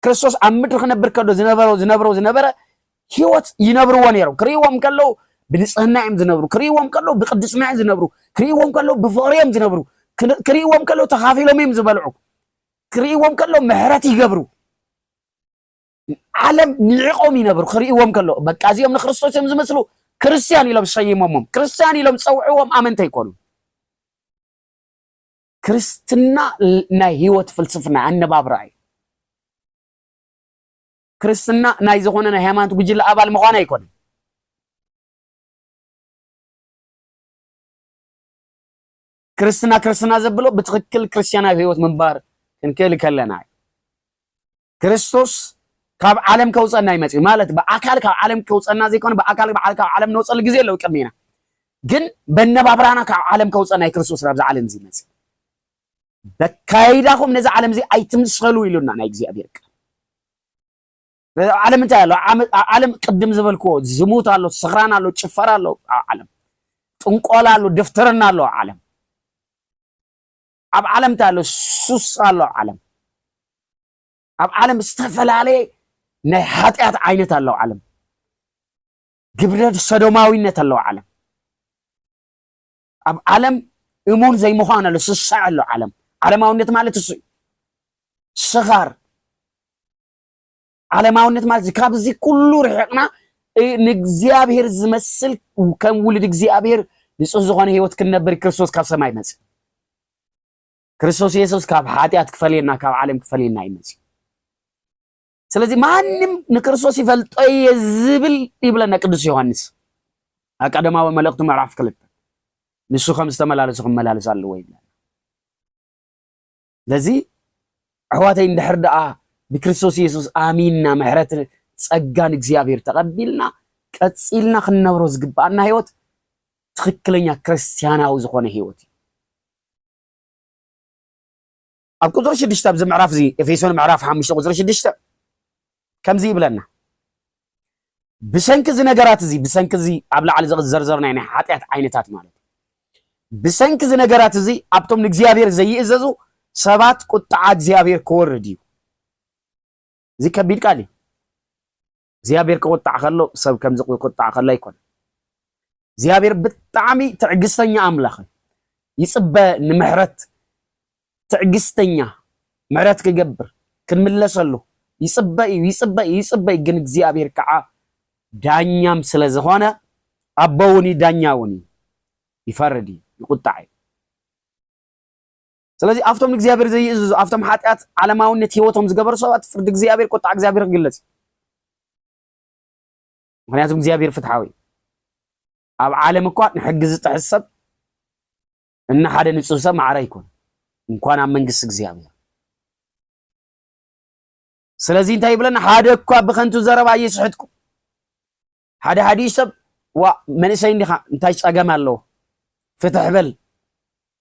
ክርስቶስ ኣብ ምድሪ ክነብር ከሎ ዝነበሮ ዝነብሮ ዝነበረ ህይወት ይነብርዎ ነይሮም ክርእይዎም ከለዉ ብንፅህና እዮም ዝነብሩ ክርእይዎም ከለዉ ብቅድስና እዮም ዝነብሩ ክርእይዎም ከለዉ ብፍቕሪ እዮም ዝነብሩ ክርእይዎም ከለዉ ተኻፊሎም እዮም ዝበልዑ ክርእይዎም ከለዉ ምሕረት ይገብሩ ዓለም ንዕቆም ይነብሩ ክርእይዎም ከሎ በቃ እዚኦም ንክርስቶስ እዮም ዝመስሉ ክርስትያን ኢሎም ሰይሞሞም ክርስትያን ኢሎም ፀውዕዎም ኣመንተ ይኮኑ ክርስትና ናይ ህይወት ፍልስፍና ኣነባብራ እዩ ክርስትና ናይ ዝኾነ ናይ ሃይማኖት ጉጅለ ኣባል ምዃን ኣይኮነን ክርስትና ክርስትና ዘብሎ ብትክክል ክርስትያናዊ ህይወት ምንባር ክንክእል ከለና እዩ ክርስቶስ ካብ ዓለም ከውፀና እዩ መፅኡ ማለት ብኣካል ካብ ዓለም ከውፀና ዘይኮነ ብኣካል ካብ ዓለም ንወፀሉ ግዜ ኣለዉ ቅድሜና ግን በነባብራና ካብ ዓለም ከውፀና እዩ ክርስቶስ ናብዚ ዓለም እዚ መፅእ በካይዳኹም ነዚ ዓለም እዚ ኣይትምሰሉ ኢሉና ናይ እግዚኣብሔር ቃል ዓለም እንታይ ኣሎ ዓለም ቅድም ዝበልክዎ ዝሙት ኣሎ ስኽራን ኣሎ ጭፈራ ኣሎ ዓለም ጥንቆላ ኣሎ ድፍትርና ኣሎ ዓለም ኣብ ዓለም እንታይ ኣሎ ሱስ ኣሎ ኣብ ዓለም ኣብ ዓለም ዝተፈላለየ ናይ ሓጢኣት ዓይነት ኣለዉ ዓለም ግብረ ሰዶማዊነት ኣለዉ ዓለም ኣብ ዓለም እሙን ዘይምዃን ኣሎ ስሳዕ ኣሎ ዓለም ዓለማውነት ማለት እሱ እዩ ስኻር ዓለማውነት ማለት እዚ ካብዚ ኩሉ ርሕቕና ንእግዚኣብሔር ዝመስል ከም ውልድ እግዚኣብሔር ንጹህ ዝኾነ ህይወት ክንነብር ክርስቶስ ካብ ሰማይ መጽ ክርስቶስ ኢየሱስ ካብ ሓጢኣት ክፈልየና ካብ ዓለም ክፈልየና እዩ መጽ ስለዚ ማንም ንክርስቶስ ይፈልጦ እየ ዝብል ይብለና ቅዱስ ዮሐንስ ኣብ ቀደማዊ መልእኽቱ ምዕራፍ ክልተ ንሱ ከም ዝተመላለሱ ክመላለስ ኣለዎ ይብለና ስለዚ ኣሕዋተይ እንድሕር ደኣ ብክርስቶስ የሱስ ኣሚንና ምሕረት ጸጋን እግዚኣብሔር ተቐቢልና ቀጺልና ክንነብሮ ዝግብኣና ህይወት ትኽክለኛ ክርስቲያናዊ ዝኾነ ህይወት እዩ ኣብ ቁፅሪ ሽዱሽተ ኣብዚ ምዕራፍ እዚ ኤፌሶን ምዕራፍ ሓሙሽተ ቁፅሪ ሽዱሽተ ከምዚ ይብለና፣ ብሰንኪ እዚ ነገራት እዚ፣ ብሰንኪ እዚ ኣብ ላዕሊ ዘዘርዘርናዮ ናይ ሓጢኣት ዓይነታት ማለት እዩ። ብሰንኪ እዚ ነገራት እዚ ኣብቶም ንእግዚኣብሔር ዘይእዘዙ ሰባት ቁጥዓ እግዚኣብሔር ክወርድ እዩ። እዚ ከቢድ ቃል እዩ። እግዚኣብሔር ክቁጣዕ ከሎ ሰብ ከምዚ ክቁጣዕ ከሎ ኣይኮነ። እግዚኣብሔር ብጣዕሚ ትዕግስተኛ ኣምላኽ እዩ። ይፅበ ንምሕረት ትዕግስተኛ ምሕረት ክገብር ክንምለሰሉ ይጽበ እዩ ይጽበ እዩ ይጽበ እዩ ግን እግዚኣብሔር ከዓ ዳኛም ስለ ዝኾነ ኣቦ እውን እዩ ዳኛ እውን እዩ ይፈርድ እዩ ይቁጣዕ እዩ ስለዚ ኣብቶም ንእግዚኣብሔር ዘይእዝዙ ኣብቶም ሓጢኣት ዓለማዊነት ህይወቶም ዝገበሩ ሰባት ፍርዲ እግዚኣብሔር ቁጣዕ እግዚኣብሔር ክግለጽ እዩ ምክንያቱም እግዚኣብሔር ፍትሓዊ እዩ ኣብ ዓለም እኳ ንሕጊ ዝጥሕስ ሰብ እና ሓደ ንጹህ ሰብ ማዕረ ኣይኮነን እንኳን ኣብ መንግስቲ እግዚኣብሔር ስለዚህ እንታይ ይብለና ሓደ እኳ ብከንቱ ዘረባ እየስሕትኩ ሓደ ሓደ ሰብ ዋ መንእሰይ እንዲኻ እንታይ ጸገም ኣለዎ ፍትሕ በል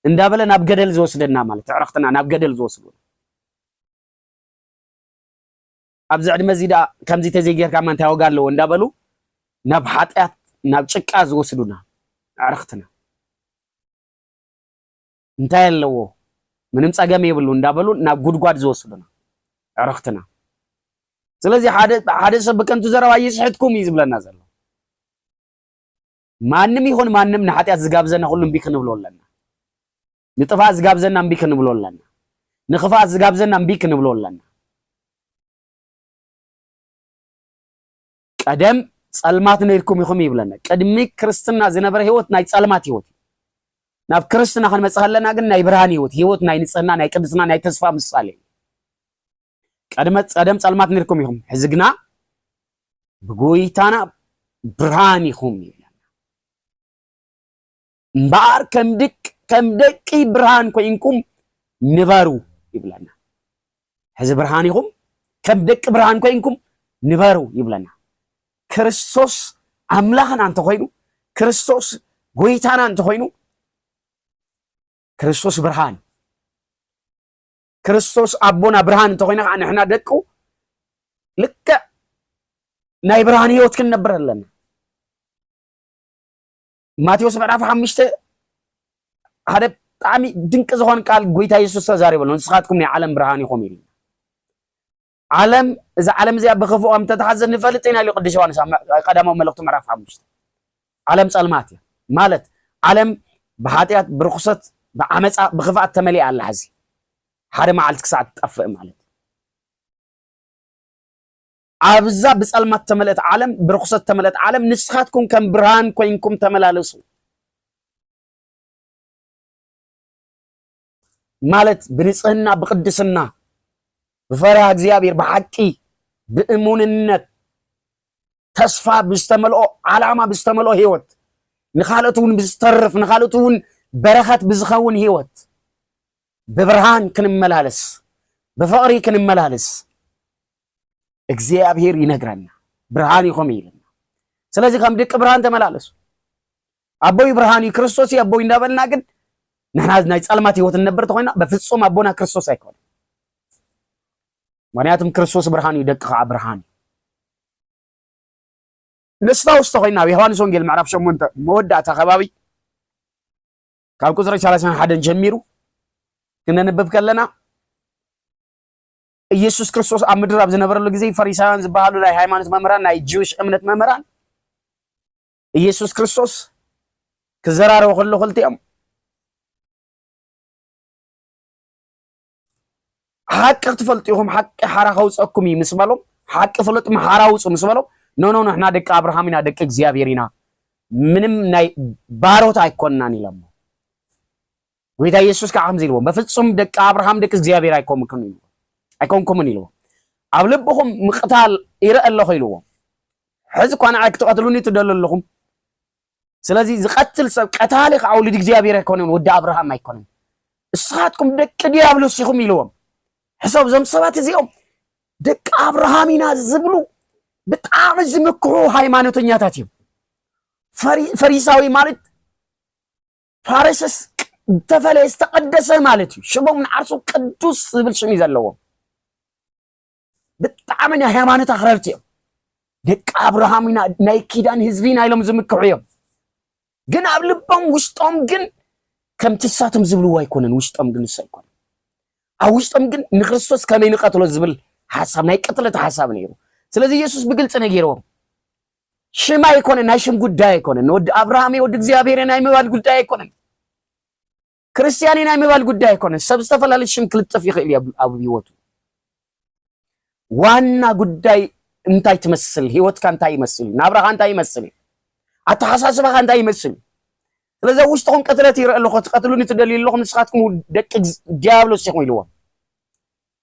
እንዳበለ ናብ ገደል ዝወስደና ማለት ዕረክትና ናብ ገደል ዝወስዱ ኣብዚ ዕድመ እዚ ደኣ ከምዚ ተዘይጌርካማ እንታይ ዋጋ ኣለዎ እንዳበሉ ናብ ሓጢኣት ናብ ጭቃ ዝወስዱና ኣዕርኽትና እንታይ ኣለዎ ምንም ጸገም የብሉ እንዳበሉ ናብ ጉድጓድ ዝወስዱና ዕርኽትና ስለዚ ሓደ ሓደ ሰብ ብከንቱ ዘረባ ይስሕትኩም እዩ ዝብለና ዘሎ ማንም ይኹን ማንም ንሓጢኣት ዝጋብዘና ኩሉ እምቢ ክንብሎ ኣለና ንጥፍኣት ዝጋብዘና እምቢ ክንብሎ ኣለና። ንክፍኣት ዝጋብዘና እምቢ ክንብሎ ኣለና። ቀደም ጸልማት ነርኩም ኢኹም ይብለና። ቅድሚ ክርስትና ዝነበረ ህይወት ናይ ጸልማት ህይወት ናብ ክርስትና ክንመጽእ ከለና ግን ናይ ብርሃን ህይወት ህይወት ናይ ንጽህና ናይ ቅድስና ናይ ተስፋ ምሳሌ ቀደም ጸደም ጸልማት ነርኩም ኢኹም ሕዚ ግና ብጎይታና ብርሃን ኢኹም ይብለና እምበኣር ከም ደቂ ብርሃን ኮይንኩም ንበሩ ይብለና። ሕዚ ብርሃን ኢኹም፣ ከም ደቂ ብርሃን ኮይንኩም ንበሩ ይብለና። ክርስቶስ ኣምላኽና እንተኾይኑ፣ ክርስቶስ ጎይታና እንተኾይኑ፣ ክርስቶስ ብርሃን ክርስቶስ ኣቦና ብርሃን እንተኾይና ከዓ ንሕና ደቁ ልክዕ ናይ ብርሃን ህይወት ክንነብር ኣለና። ማቴዎስ ምዕራፍ ሓሙሽተ ሓደ ብጣዕሚ ድንቂ ዝኾን ቃል ጎይታ የሱስ ተዛሪበሉ ንስኻትኩም ናይ ዓለም ብርሃን ኢኹም ኢሉ ዓለም እዚ ዓለም እዚኣ ብክፉእ ከም ተተሓዘ ንፈልጥ ኢና ኢሉ ቅዱስ ዮሃንስ ቀዳማዊ መልእኽቱ ምዕራፍ ሓሙሽተ ዓለም ጸልማት እያ ማለት ዓለም ብሓጢኣት ብርኩሰት ብዓመፃ ብክፍኣት ተመሊኣ ኣላ ሕዚ ሓደ መዓልቲ ክሳዕ ትጠፍእ ማለት ኣብዛ ብጸልማት እተመልእት ዓለም ብርኹሰት እተመልእት ዓለም ንስኻትኩም ከም ብርሃን ኮይንኩም ተመላለሱ ማለት ብንጽህና ብቅድስና ብፈሪሃ እግዚኣብሔር ብሓቂ ብእሙንነት ተስፋ ብዝተመልኦ ዓላማ ብዝተመልኦ ህይወት ንካልኦት እውን ብዝተርፍ ንካልኦት እውን በረኸት ብዝኸውን ህይወት ብብርሃን ክንመላለስ ብፍቕሪ ክንመላለስ እግዚኣብሔር ይነግረና ብርሃን ይኹም ይልና ስለዚህ ከም ድቂ ብርሃን ተመላለሱ ኣቦይ ብርሃን እዩ ክርስቶስ እዩ ኣቦይ እንዳበልና ግን ንሕና ናይ ጸልማት ህይወት እንነብር ተኮይና በፍጹም ኣቦና ክርስቶስ ኣይኮነ ምክንያቱም ክርስቶስ ብርሃን እዩ ደቂ ከዓ ብርሃን እዩ ነስታውስ ተኮይና ኣብ ዮሃንስ ወንጌል ምዕራፍ ሸሞንተ መወዳእታ ከባቢ ካብ ቁፅሪ ሰላሳን ሓደን ጀሚሩ ክነንብብ ከለና ኢየሱስ ክርስቶስ ኣብ ምድር ኣብ ዝነበረሉ ግዜ ፈሪሳውያን ዝበሃሉ ናይ ሃይማኖት መምህራን ናይ ጅዊሽ እምነት መምህራን ኢየሱስ ክርስቶስ ክዘራረቡ ከሎ ክልቲኦም ሓቂ ክትፈልጡ ኢኹም ሓቂ ሓራ ከውፀኩም እዩ ምስ በሎም ሓቂ ፍለጡ ሓራ ውፁ ምስ በሎም ኖኖ ንሕና ደቂ ኣብርሃም ኢና ደቂ እግዚኣብሔር ኢና ምንም ናይ ባሮት ኣይኮንናን ኢሎሞ ጎይታ ኢየሱስ ከዓ ከምዚ ኢልዎም በፍፁም ደቂ ኣብርሃም ደቂ እግዚኣብሔር ኣይኮንኩምን ኢልዎም ኣይኮንኩምን ኢልዎም ኣብ ልብኹም ምቕታል ይረአ ኣለኹ ኢልዎም ሕዚ እኳ ንዓይ ክትቐትሉኒ ትደሉ ኣለኹም ስለዚ ዝቀትል ሰብ ቀታሊ ከዓ ወልድ እግዚኣብሔር ኣይኮነን ወዲ ኣብርሃም ኣይኮነን እስኻትኩም ደቂ ዲያብሎስ ኢኹም ኢልዎም ሕሰብ እዞም ሰባት እዚኦም ደቂ ኣብርሃም ኢና ዝብሉ ብጣዕሚ ዝምክሑ ሃይማኖተኛታት እዮም ፈሪሳዊ ማለት ፋረሰስ ዝተፈለየ ዝተቀደሰ ማለት እዩ ሽሞም ንዓርሱ ቅዱስ ዝብል ሽም እዩ ዘለዎም ብጣዕሚ ናይ ሃይማኖት ኣኽረርቲ እዮም። ደቂ ኣብርሃም ኢና ናይ ኪዳን ህዝቢ ኢና ኢሎም ዝምክሑ እዮም። ግን ኣብ ልቦም ውሽጦም ግን ከምቲ እሳቶም ዝብልዎ ኣይኮነን። ውሽጦም ግን እሱ ኣይኮነን። ኣብ ውሽጦም ግን ንክርስቶስ ከመይ ንቀትሎ ዝብል ሓሳብ ናይ ቅትለት ሓሳብ ነይሩ። ስለዚ ኢየሱስ ብግልፂ ነጊርዎም ሽም ኣይኮነን፣ ናይ ሽም ጉዳይ ኣይኮነን፣ ወዲ ኣብርሃም ወዲ እግዚኣብሔር ናይ ምባል ጉዳይ ኣይኮነን። ክርስትያን እዩ ናይ ምባል ጉዳይ ኣይኮነን። ሰብ ዝተፈላለዩ ሽም ክልጠፍ ይኽእል እዩ ኣብ ህይወቱ። ዋና ጉዳይ እንታይ ትመስል፣ ህይወትካ እንታይ ይመስል፣ ናብራኻ እንታይ ይመስል፣ ኣተሓሳስባኻ እንታይ ይመስል። ስለዚ ኣብ ውሽጥኹም ቅትለት ይርኢ ኣለኹ፣ ትቀትሉኒ ትደልዩ ኣለኹም፣ ንስኻትኩም ደቂ ዲያብሎስ ኢኹም ኢልዎም።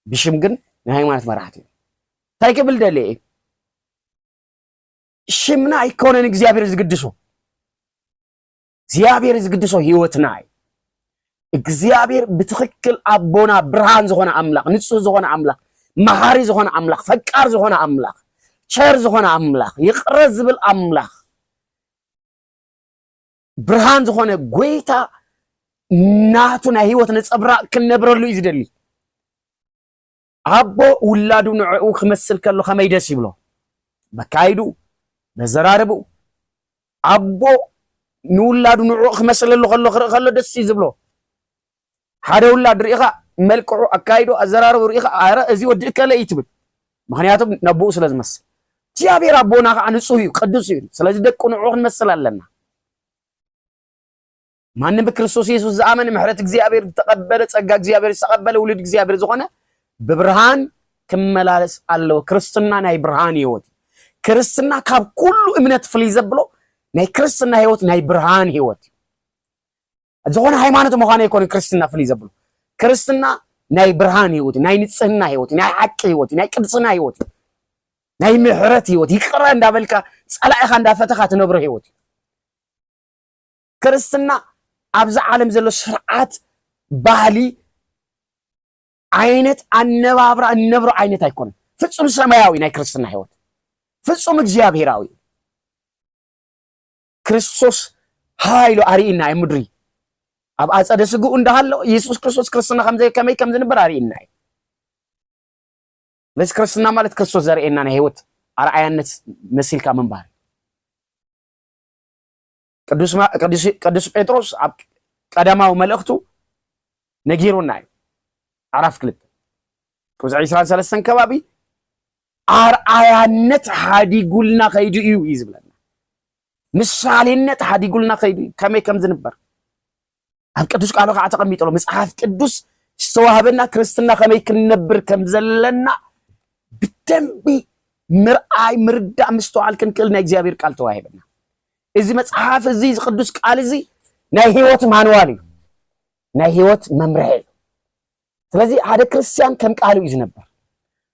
ብሽም ግን ናይ ሃይማኖት መራሕቲ እዩ። እንታይ ክብል ደልየ እዩ ሽምና ኣይኮነን እግዚኣብሔር ዝግድሶ እግዚኣብሔር ዝግድሶ ህይወትና እዩ። እግዚኣብሔር ብትክክል ኣቦና ብርሃን ዝኾነ ኣምላኽ፣ ንጹህ ዝኾነ ኣምላኽ፣ መሃሪ ዝኾነ ኣምላኽ፣ ፈቃር ዝኾነ ኣምላኽ፣ ቸር ዝኾነ ኣምላኽ፣ ይቅረ ዝብል ኣምላኽ፣ ብርሃን ዝኾነ ጎይታ ናቱ ናይ ህይወት ነጸብራቅ ክንነብረሉ እዩ ዝደሊ። ኣቦ ውላዱ ንዕኡ ክመስል ከሎ ከመይ ደስ ይብሎ በካይዱ በዘራርብኡ ኣቦ ንውላዱ ንዕኡ ክመስለሉ ከሎ ክርኢ ከሎ ደስ እዩ ዝብሎ ሓደ ውላድ ርኢኻ መልክዑ ኣካይዶ ኣዘራርቡ ርኢኻ ኣረ እዚ ወዲ እከለ እዩ ትብል ምክንያቱ ነቦኡ ስለ ዝመስል እግዚኣብሔር ኣቦና ከዓ ንፁህ እዩ ቅዱስ እዩ ስለዚ ደቁ ንዕኡ ክንመስል ኣለና ማንም ብክርስቶስ ኢየሱስ ዝኣመነ ምሕረት እግዚኣብሔር ዝተቀበለ ጸጋ እግዚኣብሔር ዝተቀበለ ውሉድ እግዚኣብሔር ዝኾነ ብብርሃን ክመላለስ ኣለዎ። ክርስትና ናይ ብርሃን ህይወት እዩ። ክርስትና ካብ ኩሉ እምነት ፍልይ ዘብሎ ናይ ክርስትና ህይወት ናይ ብርሃን ህይወት እዩ። ዝኾነ ሃይማኖት ምዃኑ ኣይኮነ ክርስትና ፍልይ ዘብሎ ክርስትና ናይ ብርሃን ህይወት ናይ ንጽህና ህይወት ናይ ሓቂ ህይወት ናይ ቅድስና ህይወት ናይ ምሕረት ህይወት ይቅረ እንዳበልካ ጸላኢኻ እንዳፈተኻ ትነብሮ ህይወት እዩ። ክርስትና ኣብዚ ዓለም ዘሎ ስርዓት ባህሊ ዓይነት ኣነባብራ እነብሮ ዓይነት ኣይኮነን። ፍጹም ሰማያዊ ናይ ክርስትና ህይወት ፍጹም እግዚኣብሔራዊ ክርስቶስ ሃይሉ ኣርኢና እዩ ምድሪ ኣብ ኣፀደ ስግኡ እንዳሃሎ ኢየሱስ ክርስቶስ ክርስትና ከመይ ከም ዝንበር ኣርኢና እዩ። ስለዚ ክርስትና ማለት ክርስቶስ ዘርእየና ናይ ህይወት ኣርኣያነት መሲልካ ምንባር ቅዱስ ጴጥሮስ ኣብ ቀዳማዊ መልእኽቱ ነጊሩና እዩ ምዕራፍ ክልተ ቅብዚ ዕስራን ሰለስተን ከባቢ ኣርኣያነት ሓዲጉልና ከይዱ እዩ እዩ ዝብለና ምሳሌነት ሓዲጉልና ከይዱ እዩ ከመይ ከም ዝንበር ኣብ ቅዱስ ቃሉ ከዓ ተቐሚጡ ኣሎ። መጽሓፍ ቅዱስ ዝተዋህበና ክርስትና ከመይ ክንነብር ከም ዘለና ብደንቢ ምርኣይ፣ ምርዳእ፣ ምስተዋዓል ክንክእል ናይ እግዚኣብሔር ቃል ተዋሂበና። እዚ መጽሓፍ እዚ ቅዱስ ቃል እዚ ናይ ህይወት ማንዋል እዩ፣ ናይ ህይወት መምርሒ እዩ። ስለዚ ሓደ ክርስቲያን ከም ቃሉ እዩ ዝነበር።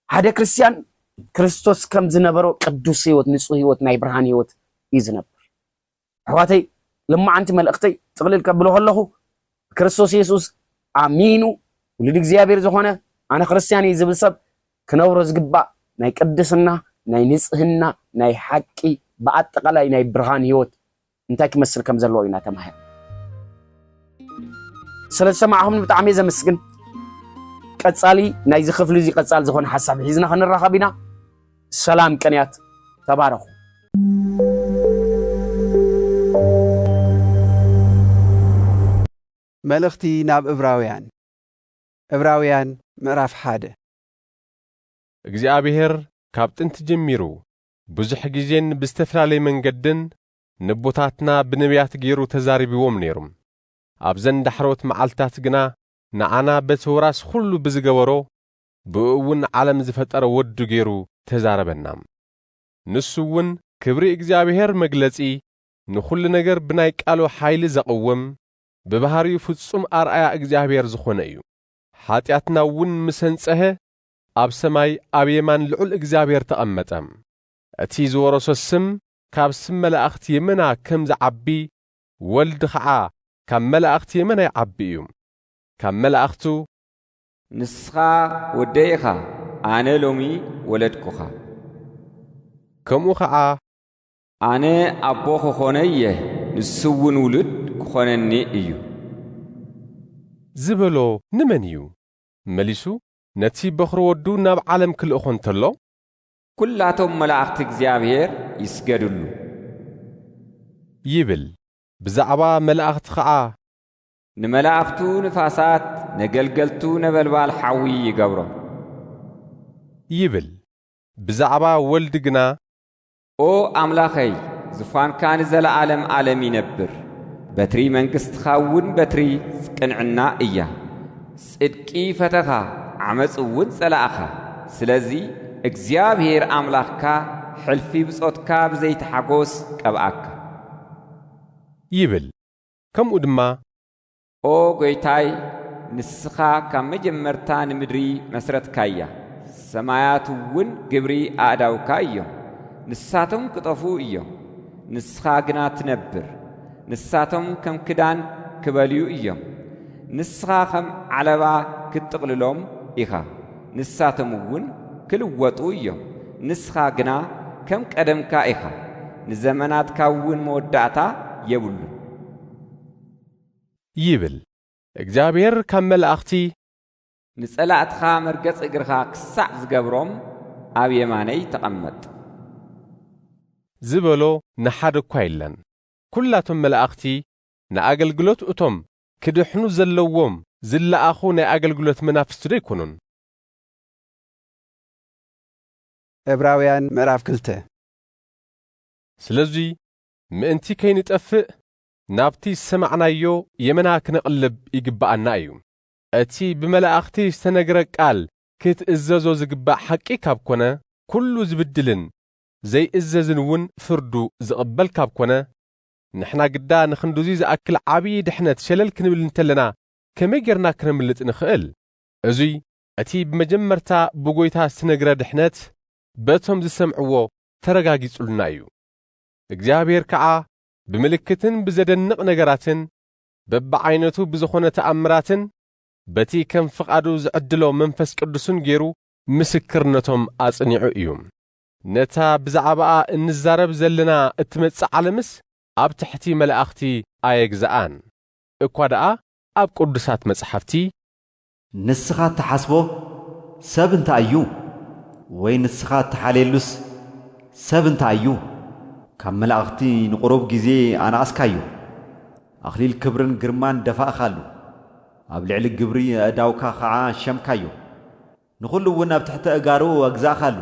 ሓደ ክርስቲያን ክርስቶስ ከም ዝነበሮ ቅዱስ ህይወት፣ ንጹህ ህይወት፣ ናይ ብርሃን ህይወት እዩ ዝነበር። ኣሕዋተይ ልማዓንቲ መልእኽተይ ጥቕልል ከብሎ ከለኹ ብክርስቶስ የሱስ ኣሚኑ ውሉድ እግዚኣብሔር ዝኾነ ኣነ ክርስትያን እየ ዝብል ሰብ ክነብሮ ዝግባእ ናይ ቅድስና ናይ ንጽህና ናይ ሓቂ ብኣጠቃላይ ናይ ብርሃን ህይወት እንታይ ክመስል ከም ዘለዎ ኢና ተማሂር ስለ ዝሰማዕኹምኒ ብጣዕሚ ዘመስግን ቀጻሊ ናይዚ ክፍሊ እዚ ቀጻሊ ዝኾነ ሓሳብ ሒዝና ክንራኸብ ኢና ሰላም ቅንያት ተባረኹ። መልእኽቲ ናብ እብራውያን እብራውያን ምዕራፍ ሓደ እግዚኣብሔር ካብ ጥንቲ ጀሚሩ ብዙሕ ግዜን ብዝተፈላለየ መንገድን ነቦታትና ብነብያት ገይሩ ተዛሪብዎም ነይሩ። ኣብዘን ዳሕረዎት መዓልትታት ግና ንዓና በቲ ወራስ ዅሉ ብዝገበሮ ብእኡ እውን ዓለም ዝፈጠረ ወዱ ገይሩ ተዛረበና። ንሱ እውን ክብሪ እግዚኣብሔር መግለጺ ንኹሉ ነገር ብናይ ቃሉ ሓይሊ ዘቕውም ብባህሪኡ ፍጹም ኣርኣያ እግዚኣብሔር ዝኾነ እዩ። ሓጢኣትና እውን ምስ ኣንጸሀ ኣብ ሰማይ ኣብ የማን ልዑል እግዚኣብሔር ተቐመጠ። እቲ ዝወረሶ ስም ካብ ስም መላእኽቲ የመና ከም ዝዓቢ ወልድ ኸዓ ካብ መላእኽቲ የመና ይዓቢ እዩ። ካብ መላእኽቱ ንስኻ ወደይ ኢኻ፣ ኣነ ሎሚ ወለድኩኻ። ከምኡ ኸዓ። ኣነ ኣቦ ክኾኖ እየ፣ ንሱውን ውሉድ ክኾነኒ እዩ። ዝበሎ ንመን እዩ? መሊሱ ነቲ በዅሪ ወዱ ናብ ዓለም ክልእኾ እንተሎ። ኵላቶም መላእኽቲ እግዚኣብሔር ይስገድሉ። ይብል። ብዛዕባ መላእኽቲ ኸዓ። ንመላእኽቱ ንፋሳት ነገልገልቱ ነበልባል ሓዊ ይገብሮም። ይብል ብዛዕባ ወልድ ግና። ኦ ኣምላኸይ ዙፋንካ ንዘለዓለም ዓለም ይነብር። በትሪ መንግሥትኻ እውን በትሪ ቅንዕና እያ። ጽድቂ ፈተኻ ዓመጽ እውን ጸላእኻ። ስለዚ እግዚኣብሔር ኣምላኽካ ሕልፊ ብጾትካ ብዘይቲ ሓጎስ ቀብኣካ። ይብል ከምኡ ድማ። ኦ ጐይታይ፣ ንስኻ ካብ መጀመርታ ንምድሪ መስረትካያ፣ ሰማያትውን ግብሪ ኣእዳውካ እዮም። ንሳቶም ክጠፍኡ እዮም፣ ንስኻ ግና ትነብር፣ ንሳቶም ከም ክዳን ክበልዩ እዮም፣ ንስኻ ኸም ዓለባ ክትጥቕልሎም ኢኻ። ንሳቶም እውን ክልወጡ እዮም፣ ንስኻ ግና ከም ቀደምካ ኢኻ፣ ንዘመናትካ እውን መወዳእታ የብሉን። ይብል እግዚኣብሄር ካብ መላእኽቲ። ንጸላእትኻ መርገጺ እግርኻ ክሳዕ ዝገብሮም ኣብ የማነይ ተቐመጥ። ዝበሎ ንሓደ እኳ የለን። ኵላቶም መላእኽቲ ንኣገልግሎት እቶም ክድሕኑ ዘለዎም ዝለኣኹ ናይ ኣገልግሎት መናፍስቲዶ ኣይኮኑን? ዕብራውያን ምዕራፍ ክልተ። ስለዙይ ምእንቲ ከይንጠፍእ ናብቲ ዝሰማዕናዮ የመና ክነቕልብ ይግበኣና እዩ። እቲ ብመላእኽቲ ዝተነግረ ቃል ክትእዘዞ ዝግባእ ሓቂ ካብ ኮነ፣ ኩሉ ዝብድልን ዘይእዘዝን እውን ፍርዱ ዝቕበል ካብ ኮነ፣ ንሕና ግዳ ንኽንድዙይ ዝኣክል ዓብዪ ድሕነት ሸለል ክንብል እንተለና ከመይ ጌርና ክነምልጥ ንኽእል? እዙይ እቲ ብመጀመርታ ብጐይታ ዝተነግረ ድሕነት በቶም ዝሰምዕዎ ተረጋጊጹልና እዩ። እግዚኣብሔር ከዓ ብምልክትን ብዘደንቕ ነገራትን በብዓይነቱ ብዝኾነ ተኣምራትን በቲ ከም ፍቓዱ ዝዕድሎ መንፈስ ቅዱስን ገይሩ ምስክርነቶም ኣጽኒዑ እዩ። ነታ ብዛዕባኣ እንዛረብ ዘለና እትመጽእ ዓለምስ ኣብ ትሕቲ መላእኽቲ ኣየግዝኣን፣ እኳ ደኣ ኣብ ቅዱሳት መጽሓፍቲ። ንስኻ እትሓስቦ ሰብ እንታይ እዩ? ወይ ንስኻ እትሓልየሉስ ሰብ እንታይ እዩ? ካብ መላእኽቲ ንቝሩብ ግዜ ኣነኣስካዮ፣ ኣኽሊል ክብርን ግርማን ደፋእካሉ፣ ኣብ ልዕሊ ግብሪ ኣእዳውካ ኸዓ ሸምካዮ። ንኹሉ እውን ኣብ ትሕቲ ኣእጋሩ ኣግዛእካሉ።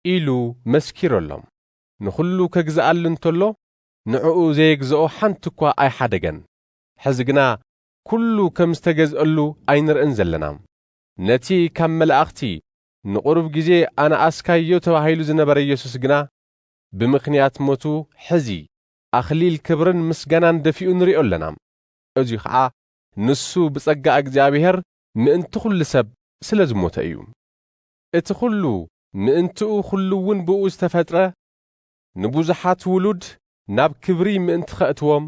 ኢሉ መስኪረሎም። ንኹሉ ከግዝኣሉ እንተሎ ንዕኡ ዘየግዝኦ ሓንቲ እኳ ኣይሓደገን። ሕዚ ግና ኩሉ ከም ዝተገዝኣሉ ኣይንርእን ዘለና። ነቲ ካብ መላእኽቲ ንቑሩብ ጊዜ ኣነኣስካዮ ተባሂሉ ዝነበረ ኢየሱስ ግና ብምኽንያት ሞቱ ሕዚ ኣኽሊል ክብርን ምስጋናን ደፊኡ ንሪኦ ኣለና። እዙይ ኸዓ ንሱ ብጸጋ እግዚኣብሔር ምእንቲ ዅሉ ሰብ ስለ ዝሞተ እዩ። እቲ ዅሉ ምእንትኡ ዅሉውን ብእኡ ዝተፈጥረ፣ ንብዙሓት ውሉድ ናብ ክብሪ ምእንቲ ኸእትዎም፣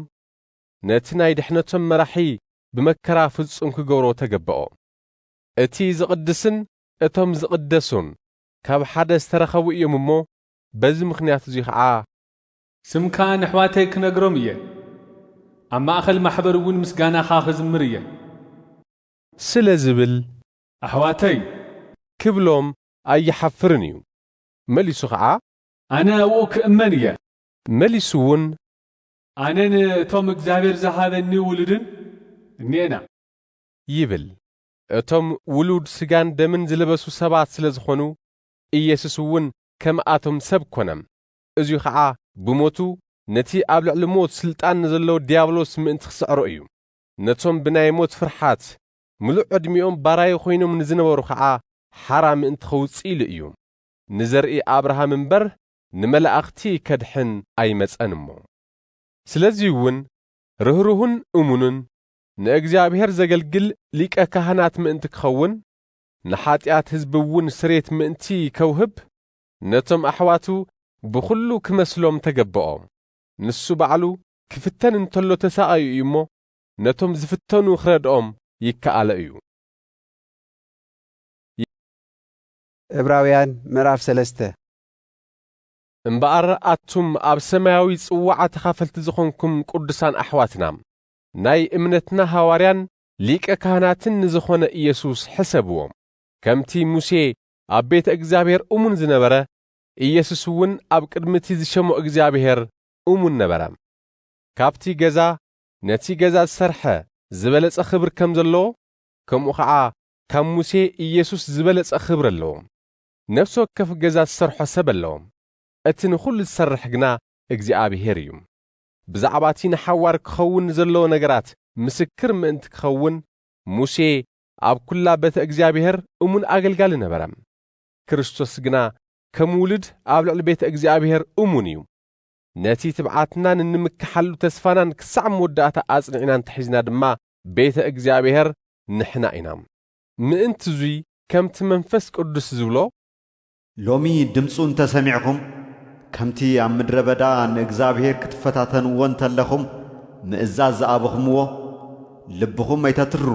ነቲ ናይ ድሕነቶም መራሒ ብመከራ ፍጹም ክገብሮ ተገበኦ። እቲ ዝቕድስን እቶም ዝቕደሱን ካብ ሓደ ዝተረኸቡ እዮም እሞ፣ በዚ ምኽንያት እዚ ኸኣ ስምካ ነሕዋተይ ክነግሮም እየ ኣብ ማእኸል ማሕበር እውን ምስጋናኻ ክዝምር እየ። ስለ ዝብል። ኣሕዋተይ። ክብሎም ኣይሓፍርን እዩ። መሊሱ ኸዓ። ኣነ ኣብኡ ክእመን እየ። መሊሱ እውን። ኣነን እቶም እግዚኣብሔር ዝሃበኒ ውሉድን እኔና። ይብል። እቶም ውሉድ ስጋን ደምን ዝለበሱ ሰባት ስለ ዝኾኑ ኢየሱስ እውን ከምኣቶም ሰብ ኮነ። እዙይ ኸዓ ብሞቱ ነቲ ኣብ ልዕሊ ሞት ስልጣን ንዘለዎ ዲያብሎስ ምእንቲ ክስዕሮ እዩ። ነቶም ብናይ ሞት ፍርሓት ምሉእ ዕድሚኦም ባራዩ ኮይኖም ንዝነበሩ ኸዓ ሓራ ምእንቲ ከውፅእ ኢሉ እዩ። ንዘርኢ ኣብርሃም እምበር ንመላእኽቲ ከድሕን ኣይመፀን እሞ። ስለዙይ እውን ርህሩህን እሙንን ንእግዚኣብሔር ዘገልግል ሊቀ ካህናት ምእንቲ ክኸውን ንሓጢኣት ህዝቢ እውን ስሬት ምእንቲ ከውህብ ነቶም ኣሕዋቱ ብኹሉ ክመስሎም ተገበኦ። ንሱ ባዕሉ ክፍተን እንተሎ ተሳቓዩ እዩ እሞ፣ ነቶም ዝፍተኑ ክረድኦም ይከኣሎ እዩ። ዕብራውያን ምዕራፍ ሰለስተ እምበኣር ኣቱም ኣብ ሰማያዊ ጽዋዓ ተኻፈልቲ ዝኾንኩም ቅዱሳን ኣሕዋትና፣ ናይ እምነትና ሃዋርያን ሊቀ ካህናትን ንዝኾነ ኢየሱስ ሕሰብዎ። ከምቲ ሙሴ ኣብ ቤተ እግዚኣብሔር እሙን ዝነበረ ኢየሱስ እውን ኣብ ቅድሚ እቲ ዝሸሞ እግዚኣብሔር እሙን ነበረ። ካብቲ ገዛ ነቲ ገዛ ዝሰርሐ ዝበለጸ ክብር ከም ዘለዎ ከምኡ ኸዓ ካብ ሙሴ ኢየሱስ ዝበለጸ ክብሪ ኣለዎ። ነፍሲ ወከፍ ገዛ ዝሰርሖ ሰብ ኣለዎ፣ እቲ ንኹሉ ዝሰርሕ ግና እግዚኣብሔር እዩ። ብዛዕባ እቲ ንሓዋር ክኸውን ንዘለዎ ነገራት ምስክር ምእንቲ ክኸውን ሙሴ ኣብ ኵላ ቤተ እግዚኣብሔር እሙን ኣገልጋሊ ነበረ። ክርስቶስ ግና ከም ውሉድ ኣብ ልዕሊ ቤተ እግዚኣብሔር እሙን እዩ። ነቲ ትብዓትናን እንምከሓሉ ተስፋናን ክሳዕ መወዳእታ ኣጽኒዕና እንተሒዝና ድማ ቤተ እግዚኣብሔር ንሕና ኢና። ምእንትዙይ ከምቲ መንፈስ ቅዱስ ዝብሎ ሎሚ ድምጹ እንተ ሰሚዕኹም፣ ከምቲ ኣብ ምድረ በዳ ንእግዚኣብሄር ክትፈታተንዎ እንተለኹም ምእዛዝ ዝኣበኹምዎ፣ ልብኹም ኣይተትርሩ።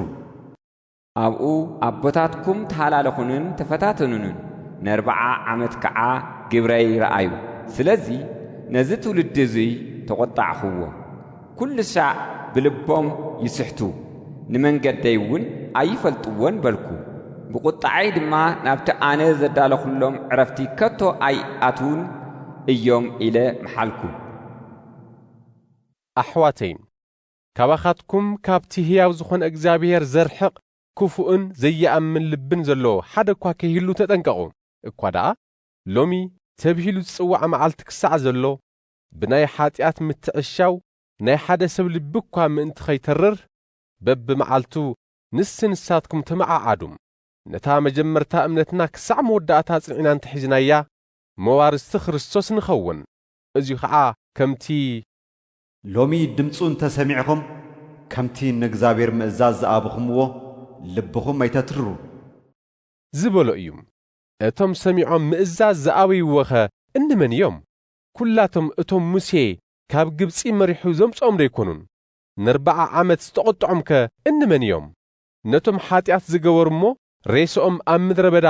ኣብኡ ኣቦታትኩም ተሃላለኹንን ተፈታተኑንን፣ ነርብዓ ዓመት ከኣ ግብረይ ረኣዩ። ስለዚ ነዚ ትውልዲ እዙይ ተቖጣዕኹዎ። ኵሉ ሳዕ ብልቦም ይስሕቱ፣ ንመንገደይ እውን ኣይፈልጥዎን በልኩ። ብቝጥዓይ ድማ ናብቲ ኣነ ዘዳለኹሎም ዕረፍቲ ከቶ ኣይኣትዉን እዮም ኢለ መሓልኩ። ኣሕዋተይ፣ ካባኻትኩም ካብቲ ህያው ዝዀነ እግዚኣብሄር ዘርሕቕ ክፉእን ዘይኣምን ልብን ዘለዎ ሓደ እኳ ከይህሉ ተጠንቀቑ። እኳ ደኣ ሎሚ ተብሂሉ ዝጽዋዕ መዓልቲ ክሳዕ ዘሎ፣ ብናይ ኃጢኣት ምትዕሻው ናይ ሓደ ሰብ ልቢ እኳ ምእንቲ ኸይተርር፣ በብመዓልቱ ንሲ ንሳትኩም ተመዓዓዱ። ነታ መጀመርታ እምነትና ክሳዕ መወዳእታ ኣጽኒዕና እንተ ሒዝናያ፣ መዋርስቲ ክርስቶስ ንኸውን። እዚ ኸኣ ከምቲ። ሎሚ ድምፁ እንተ ሰሚዕኹም፣ ከምቲ ንእግዚኣብሔር ምእዛዝ ዝኣብኹምዎ፣ ልብኹም ኣይተትርሩ። ዝበሎ እዩ። እቶም ሰሚዖም ምእዛዝ ዝኣበይዎኸ እንመን እዮም? ኩላቶም እቶም ሙሴ ካብ ግብጺ መሪሑ ዘምጽኦም ዶ ኣይኮኑን? ነርብዓ ዓመት ዝተቖጥዖምከ እንመን እዮም? ነቶም ሓጢኣት ዝገበሩ እሞ ሬስኦም ኣብ ምድረ በዳ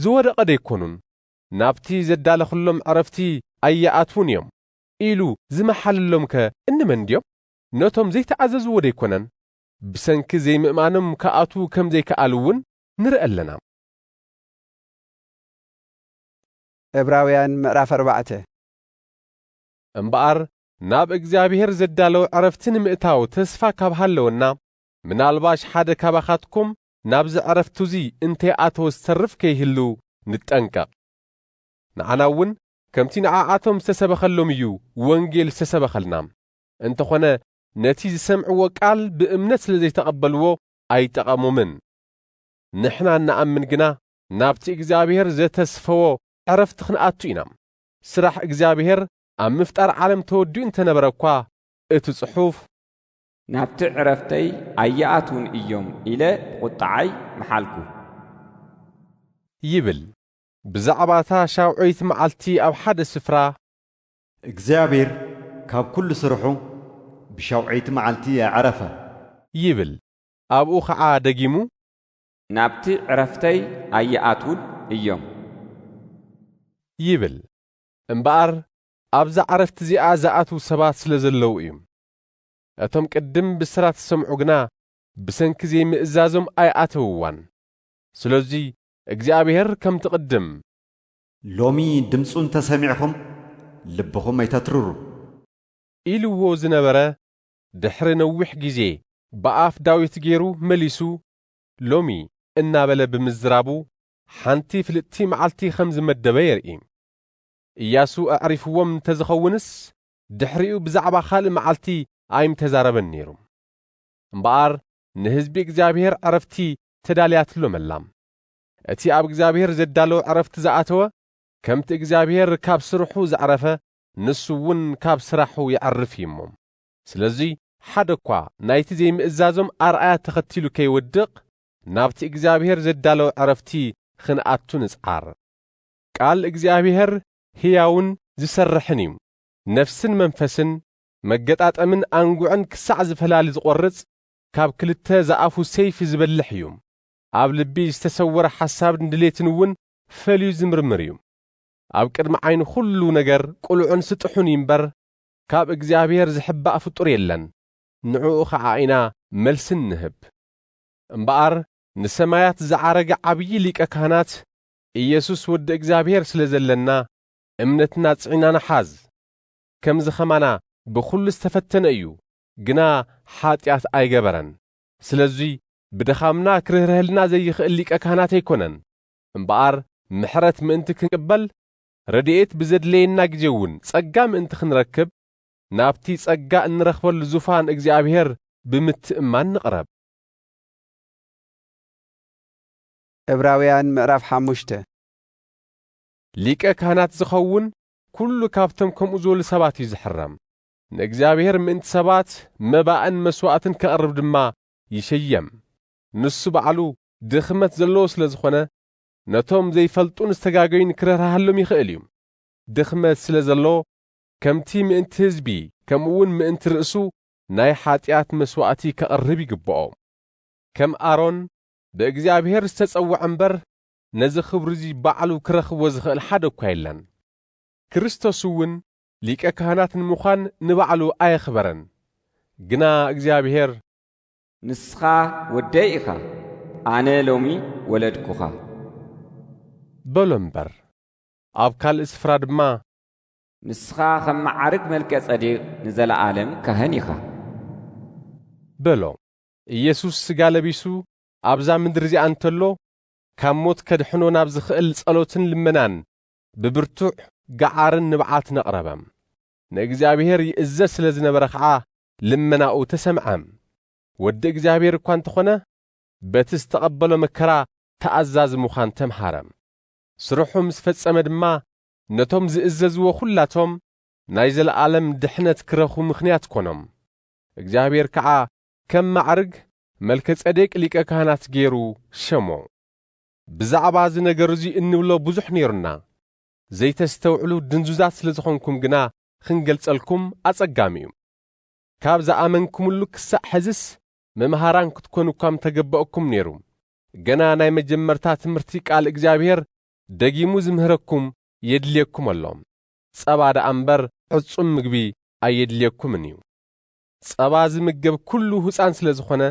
ዝወደቐ ዶ ኣይኮኑን? ናብቲ ዘዳለኽሎም ዕረፍቲ ኣይኣትዉን እዮም ኢሉ ዝመሓለሎምከ እንመን ድዮም? ነቶም ዘይተኣዘዝዎ ዶ ኣይኮነን? ብሰንኪ ዘይምእማኖም ክኣትዉ ከም ዘይከኣሉ እውን ንርኢ ኣለና። ዕብራውያን ምዕራፍ ኣርባዕተ። እምበኣር ናብ እግዚኣብሄር ዘዳለዉ ዕረፍቲ ንምእታው ተስፋ ካብ ሃለወና፣ ምናልባሽ ሓደ ካባኻትኩም ናብዚ ዕረፍቱዚ እንተ ኣተወ ዝተርፍ ከይህሉ ንጠንቀቕ። ንዓናውን ከምቲ ንዓኣቶም ዝተሰበኸሎም እዩ ወንጌል ዝተሰበኸልና፣ እንተኾነ ነቲ ዝሰምዕዎ ቃል ብእምነት ስለ ዘይተቐበልዎ ኣይጠቐሞምን። ንሕና እንኣምን ግና ናብቲ እግዚኣብሄር ዘተስፈዎ ዕረፍቲ ክንኣቱ ኢና። ስራሕ እግዚኣብሄር ኣብ ምፍጣር ዓለም ተወዲኡ እንተነበረ እኳ እቲ ጽሑፍ። ናብቲ ዕረፍተይ ኣይኣትዉን እዮም ኢለ ብቑጥዓይ መሓልኩ። ይብል። ብዛዕባ እታ ሻውዐይቲ መዓልቲ ኣብ ሓደ ስፍራ። እግዚኣብሄር ካብ ኩሉ ስርሑ ብሻውዐይቲ መዓልቲ ኣዕረፈ። ይብል። ኣብኡ ኸዓ ደጊሙ። ናብቲ ዕረፍተይ ኣይኣትዉን እዮም። ይብል። እምበኣር ኣብዛ ዕረፍቲ እዚኣ ዝኣትዉ ሰባት ስለ ዘለዉ እዩ። እቶም ቅድም ብስራት ዝሰምዑ ግና ብሰንኪ ዘይምእዛዞም ኣይኣተውዋን። ስለዙይ እግዚኣብሄር ከምቲ ቅድም። ሎሚ ድምፁ እንተ ሰሚዕኹም ልብኹም ኣይተትርሩ። ኢልዎ ዝነበረ ድሕሪ ነዊሕ ጊዜ ብኣፍ ዳዊት ገይሩ መሊሱ ሎሚ እናበለ ብምዝራቡ ሓንቲ ፍልጥቲ መዓልቲ ኸም ዝመደበ የርኢ። እያሱ ኣዕሪፍዎም እንተ ዝኸውንስ፣ ድሕሪኡ ብዛዕባ ኻልእ መዓልቲ ኣይምተዛረበን ነይሩ። እምበኣር፣ ንህዝቢ እግዚኣብሄር ዕረፍቲ ተዳልያትሎም ኣላ። እቲ ኣብ እግዚኣብሄር ዜዳለዎ ዕረፍቲ ዝኣተወ፣ ከምቲ እግዚኣብሄር ካብ ስርሑ ዘዕረፈ፣ ንሱ እውን ካብ ስራሑ የዕርፍ እዩ እሞ፣ ስለዚ ሓደ እኳ ናይቲ ዘይምእዛዞም ኣርኣያ ተኸቲሉ ከይወድቕ፣ ናብቲ እግዚኣብሄር ዘዳለዎ ዕረፍቲ ኽንኣቱ ንጽዓር። ቃል እግዚኣብሄር ህያውን ዚሰርሕን እዩ፣ ነፍስን መንፈስን፣ መገጣጠምን ኣንጕዕን ክሳዕ ዚፈላሊ ዚቈርጽ፣ ካብ ክልተ ዝኣፉ ሰይፊ ዚበልሕ እዩ፣ ኣብ ልቢ ዝተሰወረ ሓሳብን ድሌትን እውን ፈልዩ ዚምርምር እዩ። ኣብ ቅድሚ ዓይኑ ዅሉ ነገር ቅሉዕን ስጡሕን እዩ እምበር፣ ካብ እግዚኣብሔር ዝሕባእ ፍጡር የለን፣ ንዕኡ ኸዓ ኢና መልሲ እንህብ። እምበኣር ንሰማያት ዝዓረገ ዓብዪ ሊቀ ካህናት ኢየሱስ ወዲ እግዚኣብሔር ስለ ዘለና እምነትና ጽዒና ንሓዝ። ከምዚ ኸማና ብኹሉ ዝተፈተነ እዩ፣ ግና ሓጢኣት ኣይገበረን። ስለዙይ ብድኻምና ክርህርሀልና ዘይኽእል ሊቀ ካህናት ኣይኮነን፣ እምበኣር ምሕረት ምእንቲ ክንቅበል ረድኤት ብዘድለየና ግዜ'ውን ጸጋ ምእንቲ ኽንረክብ፣ ናብ'ቲ ጸጋ እንረኽበሉ ዙፋን እግዚኣብሔር ብምትእምማን ንቕረብ። ዕብራውያን ምዕራፍ ሓሙሽተ ሊቀ ካህናት ዚኸውን ኵሉ ካብ'ቶም ከምኡ ዝበሉ ሰባት እዩ ዚሕረም፣ ንእግዚኣብሔር ምእንቲ ሰባት መባእን መስዋእትን ኬቕርብ ድማ ይሸየም፣ ንሱ ባዕሉ ድኽመት ዘለዎ ስለ ዝኾነ፣ ነቶም ዘይፈልጡን ዝተጋገዩን ክርህራሃሎም ይኽእል እዩ። ድኽመት ስለ ዘሎ ከምቲ ምእንቲ ህዝቢ ከምኡውን ምእንቲ ርእሱ ናይ ሓጢኣት መስዋእቲ ከቕርብ ይግብኦ። ከም ኣሮን ብእግዚኣብሔር ዝተጸውዐ እምበር ነዚ ክብሪ እዚ ባዕሉ ክረኽቦ ዝኽእል ሓደ እኳ የለን። ክርስቶስ እውን ሊቀ ካህናት ንምዃን ንባዕሉ ኣየኽበረን። ግና እግዚኣብሔር ንስኻ ወደይ ኢኻ፣ ኣነ ሎሚ ወለድኩኻ። በሎ እምበር። ኣብ ካልእ ስፍራ ድማ። ንስኻ ኸም መዓርግ መልከ-ጸዴቅ ንዘለኣለም ካህን ኢኻ። በሎ። ኢየሱስ ስጋ ለቢሱ ኣብዛ ምድሪ እዚኣ እንተሎ ካብ ሞት ከድሕኖ ናብ ዝኽእል ጸሎትን ልመናን ብብርቱዕ ገዓርን ንብዓትን ኣቕረበ። ንእግዚኣብሄር ይእዘዝ ስለ ዝነበረ ኸኣ ልመናኡ ተሰምዐ። ወዲ እግዚኣብሄር እኳ እንተ ዀነ፣ በቲ ዝተቐበሎ መከራ ተኣዛዚ ምዃን ተምሃረ። ስርሑ ምስ ፈጸመ ድማ ነቶም ዚእዘዝዎ ዅላቶም ናይ ዘለኣለም ድሕነት ኪረኽቡ ምኽንያት ኰኖም። እግዚኣብሄር ከኣ ከም ማዕርግ መልከጼዴቅ ሊቀ ካህናት ገይሩ ሸሞ። ብዛዕባ እዚ ነገር እዚ እንብሎ ብዙሕ ነይሩና። ዘይተስተውዕሉ ድንዙዛት ስለ ዝኾንኩም ግና ኽንገልጸልኩም ኣጸጋሚ እዩ። ካብ ዝኣመንኩምሉ ክሳዕ ሕዝስ መምሃራን ክትኮኑ እኳ ምተገበኣኩም ነይሩ። ገና ናይ መጀመርታ ትምህርቲ ቃል እግዚኣብሔር ደጊሙ ዝምህረኩም የድልየኩም ኣሎ። ጸባ ደኣ እምበር ዕጹም ምግቢ ኣየድልየኩምን እዩ። ጸባ ዝምገብ ኩሉ ህጻን ስለ ዝኾነ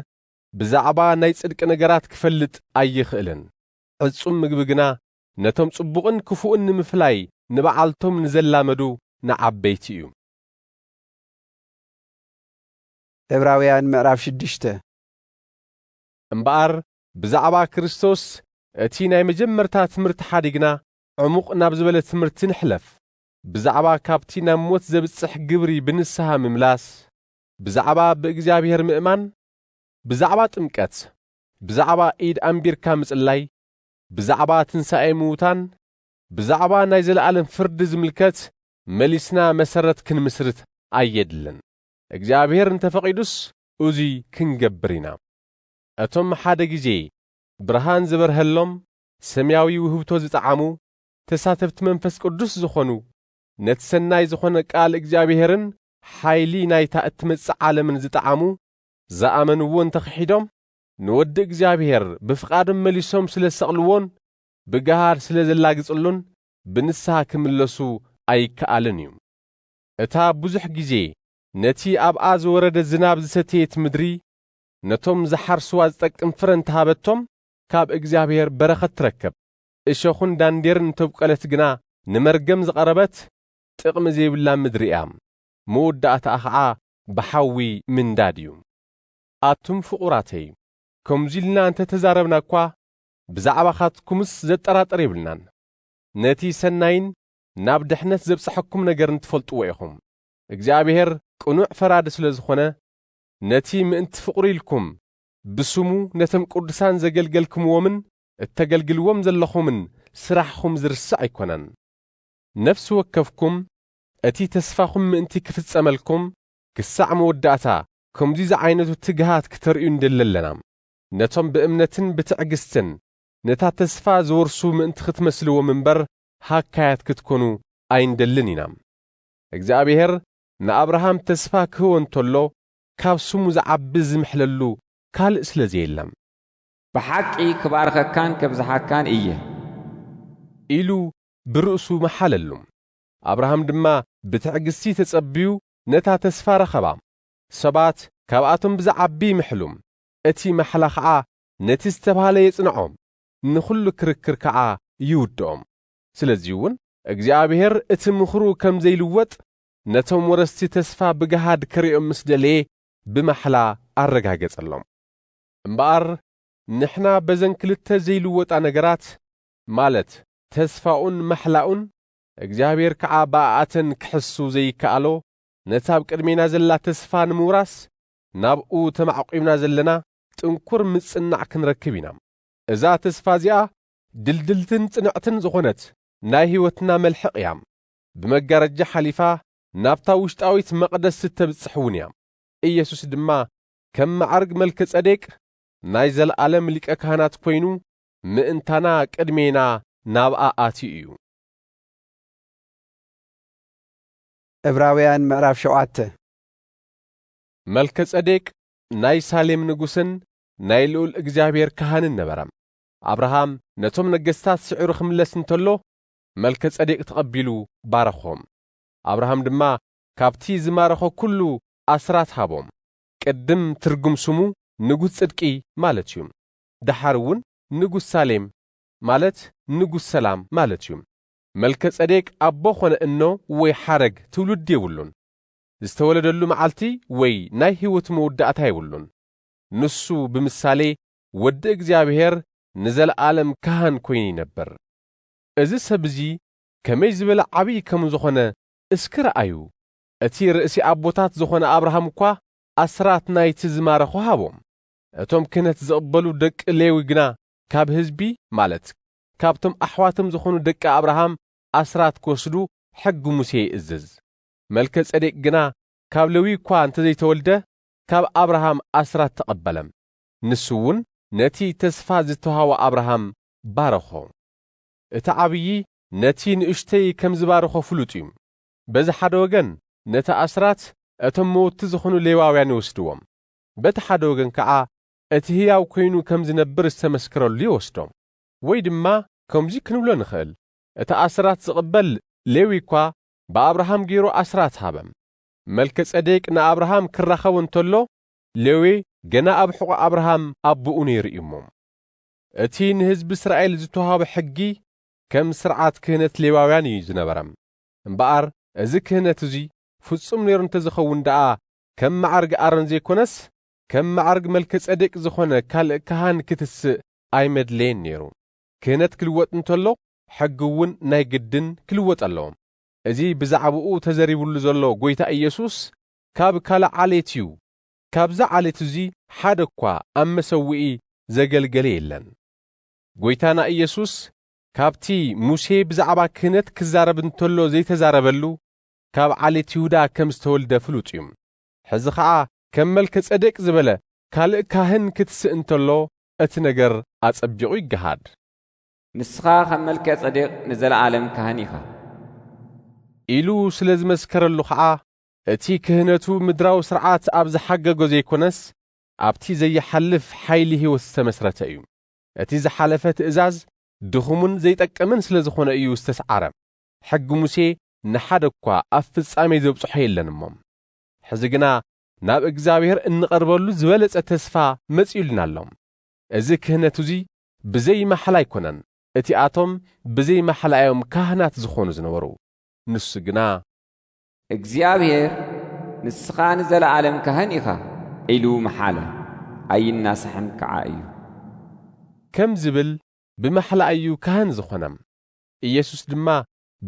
ብዛዕባ ናይ ጽድቂ ነገራት ክፈልጥ ኣይኽእልን። ዕጹም ምግቢ ግና ነቶም ጽቡቕን ክፉእን ንምፍላይ ንበዓልቶም ንዘላመዱ ንዓበይቲ እዩ። ዕብራውያን ምዕራፍ ሽዱሽተ። እምበኣር ብዛዕባ ክርስቶስ እቲ ናይ መጀመርታ ትምህርቲ ሓዲግና ዕሙቕ ናብ ዝበለ ትምህርቲ ንሕለፍ፣ ብዛዕባ ካብቲ ናብ ሞት ዘብጽሕ ግብሪ ብንስሃ ምምላስ፣ ብዛዕባ ብእግዚኣብሔር ምእማን፣ ብዛዕባ ጥምቀት፣ ብዛዕባ ኢድ ኣንቢርካ ምጽላይ፣ ብዛዕባ ትንሳኤ ምዉታን፣ ብዛዕባ ናይ ዘለኣለም ፍርዲ ዝምልከት መሊስና መሰረት ክንምስርት ኣየድልን። እግዚኣብሄር እንተ ፈቒዱስ እዙይ ክንገብር ኢና። እቶም ሓደ ጊዜ ብርሃን ዝበርሀሎም፣ ሰማያዊ ውህብቶ ዝጠዓሙ፣ ተሳተፍቲ መንፈስ ቅዱስ ዝኾኑ፣ ነቲ ሰናይ ዝኾነ ቃል እግዚኣብሄርን ሓይሊ ናይታ እትመጽእ ዓለምን ዝጠዓሙ፣ ዝኣመንዎ እንተ ኽሒዶም፣ ንወዲ እግዚኣብሔር ብፍቓዶም መሊሶም ስለ ዝሰቕልዎን ብገሃድ ስለ ዘላግጽሉን ብንስሓ ክምለሱ ኣይከኣልን እዩ። እታ ብዙሕ ግዜ ነቲ ኣብኣ ዝወረደ ዝናብ ዝሰተየት ምድሪ ነቶም ዝሓርስዋ ዝጠቅም ፍረ እንተ ሃበቶም ካብ እግዚኣብሔር በረኸት ትረከብ፣ እሾኹን ዳንዴርን እንተብቈለት ግና ንመርገም ዝቐረበት ጥቕሚ ዘይብላ ምድሪ እያ፣ መወዳእታኣ ኸዓ ብሓዊ ምንዳድ እዩ። ኣቱም ፍቑራተይ፣ ከምዚ ኢልና እንተ ተዛረብና እኳ፣ ብዛዕባኻትኩምስ ዘጠራጥር የብልናን። ነቲ ሰናይን ናብ ድሕነት ዘብጽሓኩም ነገርን ትፈልጥዎ ኢኹም። እግዚኣብሄር ቅኑዕ ፈራዲ ስለ ዝኾነ፣ ነቲ ምእንቲ ፍቕሩ ኢልኩም ብስሙ ነቶም ቅዱሳን ዘገልገልክምዎምን እተገልግልዎም ዘለኹምን ስራሕኹም ዝርስዕ ኣይኮነን። ነፍሲ ወከፍኩም እቲ ተስፋኹም ምእንቲ ክፍጸመልኩም ክሳዕ መወዳእታ ከምዙይ ዝዓይነቱ ትግሃት ክተርእዩ ንደሊ ኣለና። ነቶም ብእምነትን ብትዕግስትን ነታ ተስፋ ዝወርሱ ምእንቲ ክትመስልዎም እምበር ሃካያት ክትኮኑ ኣይንደልን ኢና። እግዚኣብሄር ንኣብርሃም ተስፋ ክህቦ እንተሎ ካብ ስሙ ዝዓቢ ዝምሕለሉ ካልእ ስለ ዘየለ። ብሓቂ ክባርኸካን ከብዝሓካን እየ። ኢሉ ብርእሱ መሓለሉ። ኣብርሃም ድማ ብትዕግስቲ ተጸብዩ ነታ ተስፋ ረኸባ። ሰባት ካብኣቶም ብዝዓቢ ይምሕሉ፣ እቲ ማሕላ ኸኣ ነቲ ዝተባህለ የጽንዖ፣ ንኹሉ ክርክር ከኣ ይውድኦ። ስለዚውን እግዚኣብሄር እቲ ምኽሩ ከም ዘይልወጥ ነቶም ወረስቲ ተስፋ ብገሃድ ከርእዮም ምስ ደለየ ብማሕላ ኣረጋገጸሎም። እምበኣር ንሕና በዘን ክልተ ዘይልወጣ ነገራት ማለት ተስፋኡን ማሕላኡን እግዚኣብሔር ከኣ ብኣኣተን ክሕሱ ዘይከኣሎ ነቲ ኣብ ቅድሜና ዘላ ተስፋ ንምውራስ ናብኡ ተማዕቊብና ዘለና ጥንኩር ምጽናዕ ክንረክብ ኢና። እዛ ተስፋ እዚኣ ድልድልትን ጽንዕትን ዝኾነት ናይ ሕይወትና መልሕቕ እያ። ብመጋረጃ ሓሊፋ ናብታ ውሽጣዊት መቕደስ እተብጽሕ እውን እያ። ኢየሱስ ድማ ከም መዓርግ መልከ ጸዴቅ ናይ ዘለኣለም ሊቀ ካህናት ኮይኑ ምእንታና ቅድሜና ናብኣ ኣትዩ እዩ። ዕብራውያን ምዕራፍ ሸውዓተ መልከጸዴቅ ናይ ሳሌም ንጉስን ናይ ልኡል እግዚኣብሔር ካህንን ነበረ። ኣብርሃም ነቶም ነገስታት ስዒሩ ክምለስ እንተሎ መልከጸዴቅ ተቐቢሉ ባረኾም። ኣብርሃም ድማ ካብቲ ዝማረኾ ኩሉ ኣስራት ሃቦም። ቅድም ትርጉም ስሙ ንጉስ ጽድቂ ማለት እዩ። ደሓር እውን ንጉስ ሳሌም ማለት ንጉስ ሰላም ማለት እዩ። መልከጸዴቅ ኣቦ ኾነ እኖ ወይ ሓረግ ትውልዲ የብሉን። ዝተወለደሉ መዓልቲ ወይ ናይ ሕይወቱ መውዳእታ የብሉን። ንሱ ብምሳሌ ወዲ እግዚኣብሔር ንዘለዓለም ካህን ኮይኑ ይነብር። እዚ ሰብ እዚ ከመይ ዝበለ ዓብዪ ከም ዝኾነ እስኪ ረኣዩ። እቲ ርእሲ ኣቦታት ዝኾነ ኣብርሃም እኳ ኣስራት ናይቲ ዝማረኾ ሃቦም። እቶም ክህነት ዝቕበሉ ደቂ ሌዊ ግና ካብ ህዝቢ ማለት ካብቶም ኣሕዋቶም ዝኾኑ ደቂ ኣብርሃም ኣስራት ክወስዱ ሕጊ ሙሴ ይእዝዝ። መልከ ጼዴቅ ግና ካብ ሌዊ እኳ እንተ ዘይተወልደ ካብ ኣብርሃም ኣስራት ተቐበለ፣ ንሱ እውን ነቲ ተስፋ ዝተውሃቦ ኣብርሃም ባረኾ። እቲ ዓብዪ ነቲ ንእሽተይ ከም ዝባርኾ ፍሉጥ እዩ። በዚ ሓደ ወገን ነቲ ኣስራት እቶም መውትቲ ዝኾኑ ሌዋውያን ይወስድዎ፣ በቲ ሓደ ወገን ከኣ እቲ ህያው ኰይኑ ከም ዚነብር ዝተመስከረሉ ይወስዶም። ወይ ድማ ከምዚ ክንብሎ ንኽእል፣ እቲ ኣስራት ዚቕበል ሌዊ እኳ ብኣብርሃም ገይሩ ኣስራት ሃበ። መልከጼዴቅ ንኣብርሃም ኪራኸቦ እንተሎ፣ ሌዊ ገና ኣብ ሕቖ ኣብርሃም ኣቦኡ ነይሩ እዩ እሞ። እቲ ንህዝቢ እስራኤል ዝተዋህበ ሕጊ ከም ስርዓት ክህነት ሌዋውያን እዩ ዝነበረ። እምበኣር እዚ ክህነት እዚ ፍጹም ነይሩ እንተ ዚኸውን ደኣ ከም መዓርግ ኣሮን ዘይኮነስ ከም መዓርግ መልከ-ጸዴቅ ዝኾነ ካልእ ካህን ክትስእ ኣይመድለየን ነይሩ። ክህነት ክልወጥ እንተሎ ሕጊ'ውን ናይ ግድን ክልወጥ ኣለዎ። እዚ ብዛዕባኡ ተዘሪብሉ ዘሎ ጎይታ ኢየሱስ ካብ ካልእ ዓሌት እዩ፣ ካብዚ ዓሌት እዚ ሓደ እኳ ኣብ መሰውኢ ዘገልገለ የለን። ጎይታና ኢየሱስ ካብቲ ሙሴ ብዛዕባ ክህነት ክዛረብ እንተሎ ዘይተዛረበሉ ካብ ዓሌት ይሁዳ ከም ዝተወልደ ፍሉጥ እዩ። ሕዚ ኸኣ ከም መልከጼዴቅ ዝበለ ካልእ ካህን ክትስእ እንተሎ እቲ ነገር ኣጸቢቑ ይገሃድ። ንስኻ ከም መልከጼዴቅ ንዘለኣለም ካህን ኢኻ። ኢሉ ስለ ዝመስከረሉ ኸኣ እቲ ክህነቱ ምድራዊ ስርዓት ኣብ ዝሓገጎ ዘይኮነስ ኣብቲ ዘይሓልፍ ሓይሊ ሕይወት ዝተመስረተ እዩ። እቲ ዝሓለፈ ትእዛዝ ድኹምን ዘይጠቅምን ስለ ዝኾነ እዩ ዝተስዓረ። ሕጊ ሙሴ ንሓደ እኳ ኣብ ፍጻሜ ዘብጽሖ የለን እሞ፣ ሕዚ ግና ናብ እግዚኣብሔር እንቐርበሉ ዝበለጸ ተስፋ መጺኡልና ኣሎ። እዚ ክህነት እዙይ ብዘይ ማሕላ ኣይኮነን፣ እቲኣቶም ብዘይ ማሕላ እዮም ካህናት ዝኾኑ ዝነበሩ፣ ንሱ ግና። እግዚኣብሔር ንስኻ ንዘለዓለም ካህን ኢኻ ኢሉ መሓለ፣ ኣይናሳሕን ከዓ እዩ። ከም ዝብል ብማሕላ እዩ ካህን ዝኾነ። ኢየሱስ ድማ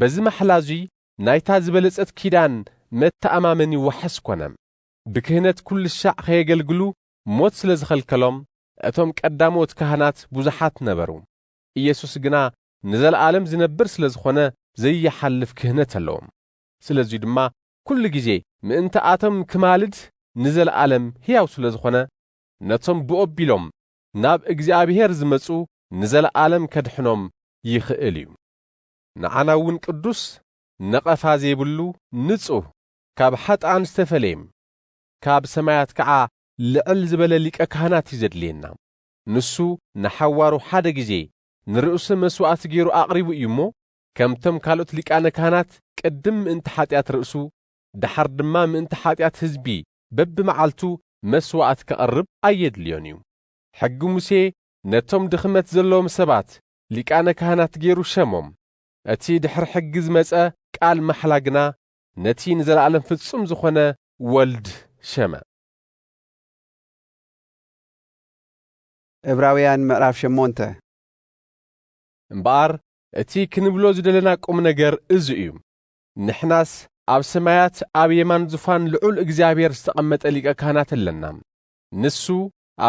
በዚ ማሕላ እዙይ ናይታ ዝበለጸት ኪዳን መተኣማመኒ ዋሕስ ኮነ። ብክህነት ኩልሻዕ ኸየገልግሉ ሞት ስለ ዝኸልከሎም እቶም ቀዳሞት ካህናት ብዙሓት ነበሩ። ኢየሱስ ግና ንዘለዓለም ዝነብር ስለ ዝኾነ ዘይሓልፍ ክህነት ኣለዎም። ስለዙይ ድማ ኩሉ ጊዜ ምእንትኣቶም ክማልድ ንዘለዓለም ሕያው ስለ ዝኾነ ነቶም ብኦቢሎም ናብ እግዚኣብሔር ዝመጹ ንዘለዓለም ከድሕኖም ይኽእል እዩ። ንዓና እውን ቅዱስ ነቐፋ ዘይብሉ ንጹህ ካብ ሓጥኣን ዝተፈለየም ካብ ሰማያት ከኣ ልዕል ዝበለ ሊቀ ካህናት እዩ ዘድልየና ንሱ ንሓዋሩ ሓደ ጊዜ ንርእሱ መስዋእቲ ገይሩ ኣቕሪቡ እዩ እሞ ከምቶም ካልኦት ሊቃነ ካህናት ቅድም ምእንቲ ሓጢኣት ርእሱ ደሓር ድማ ምእንቲ ሓጢኣት ህዝቢ በብመዓልቱ መስዋእት ከቕርብ ኣየድልዮን እዩ። ሕጊ ሙሴ ነቶም ድኽመት ዘለዎም ሰባት ሊቃነ ካህናት ገይሩ ሸሞም። እቲ ድሕሪ ሕጊ ዝመጸ ቃል ማሕላ ግና ነቲ ንዘለኣለም ፍጹም ዝኾነ ወልድ ሸመ። ዕብራውያን ምዕራፍ ሸሞንተ። እምበኣር እቲ ክንብሎ ዝደለና ቁም ነገር እዚ እዩ፣ ንሕናስ ኣብ ሰማያት ኣብ የማን ዙፋን ልዑል እግዚኣብሔር ዝተቐመጠ ሊቀ ካህናት ኣለና። ንሱ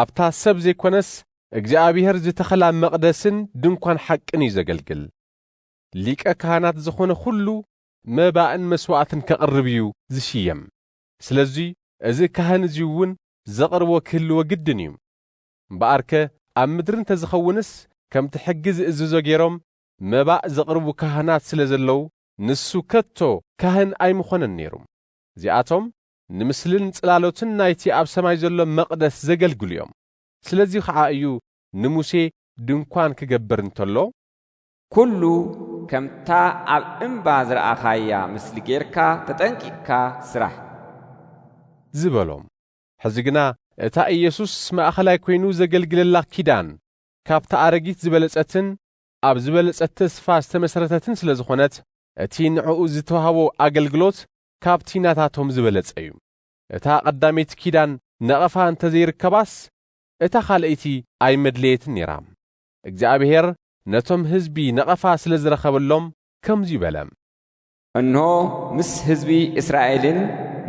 ኣብታ ሰብ ዘይኰነስ እግዚኣብሄር ዝተኸላ መቕደስን ድንኳን ሓቅን እዩ ዘገልግል። ሊቀ ካህናት ዝዀነ ዅሉ መባእን መስዋእትን ከቕርብ እዩ ዝሽየም። ስለዚ እዚ ካህን እዚ እውን ዘቕርቦ ክህልዎ ግድን እዩ። እምበኣርከ ኣብ ምድሪ እንተ ዝኸውንስ ከምቲ ሕጊ ዝእዝዞ ገይሮም መባእ ዘቕርቡ ካህናት ስለ ዘለዉ ንሱ ከቶ ካህን ኣይምዀነን ነይሩ። እዚኣቶም ንምስልን ጽላሎትን ናይቲ ኣብ ሰማይ ዘሎ መቕደስ ዜገልግሉ እዮም። ስለዚ ኸኣ እዩ ንሙሴ ድንኳን ኪገብር እንተሎ። ኵሉ ከምታ ኣብ እምባ ዝረኣኻያ ምስሊ ጌርካ ተጠንቂቕካ ስራሕ። ዝበሎ። ሕዚ ግና እታ ኢየሱስ ማእከላይ ኰይኑ ዘገልግለላ ኪዳን፣ ካብታ ኣረጊት ዝበለጸትን ኣብ ዝበለጸት ተስፋ ዝተመስረተትን ስለ ዝዀነት፣ እቲ ንዕኡ ዝተዋህቦ ኣገልግሎት ካብቲ ናታቶም ዝበለጸ እዩ። እታ ቀዳመይቲ ኪዳን ነቐፋ እንተ ዘይርከባስ እታ ካልኣይቲ ኣይመድለየትን ነይራ። እግዚኣብሄር ነቶም ህዝቢ ነቐፋ ስለ ዝረኸበሎም ከምዚ በለ። እንሆ ምስ ህዝቢ እስራኤልን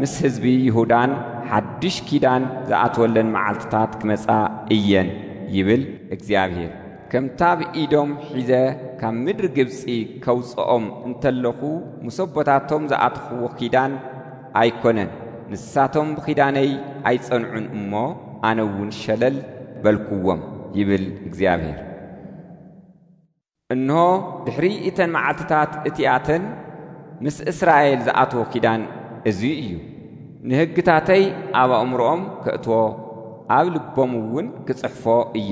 ምስ ህዝቢ ይሁዳን ሓድሽ ኪዳን ዝኣትወለን መዓልትታት ክመጻ እየን ይብል እግዚኣብሄር። ከምቲ ኣብ ኢዶም ሒዘ ካብ ምድሪ ግብጺ ከውጽኦም እንተለኹ ምስ ኣቦታቶም ዝኣተኽዎ ኪዳን ኣይኰነን፣ ንሳቶም ብኪዳነይ ኣይጸንዑን እሞ፣ ኣነ እውን ሸለል በልክዎም ይብል እግዚኣብሄር። እንሆ፣ ድሕሪ እተን መዓልትታት እቲኣተን ምስ እስራኤል ዝኣትዎ ኪዳን እዙይ እዩ። ንህግታተይ ኣብ ኣእምሮኦም ከእትዎ ኣብ ልቦም እውን ክጽሕፎ እየ።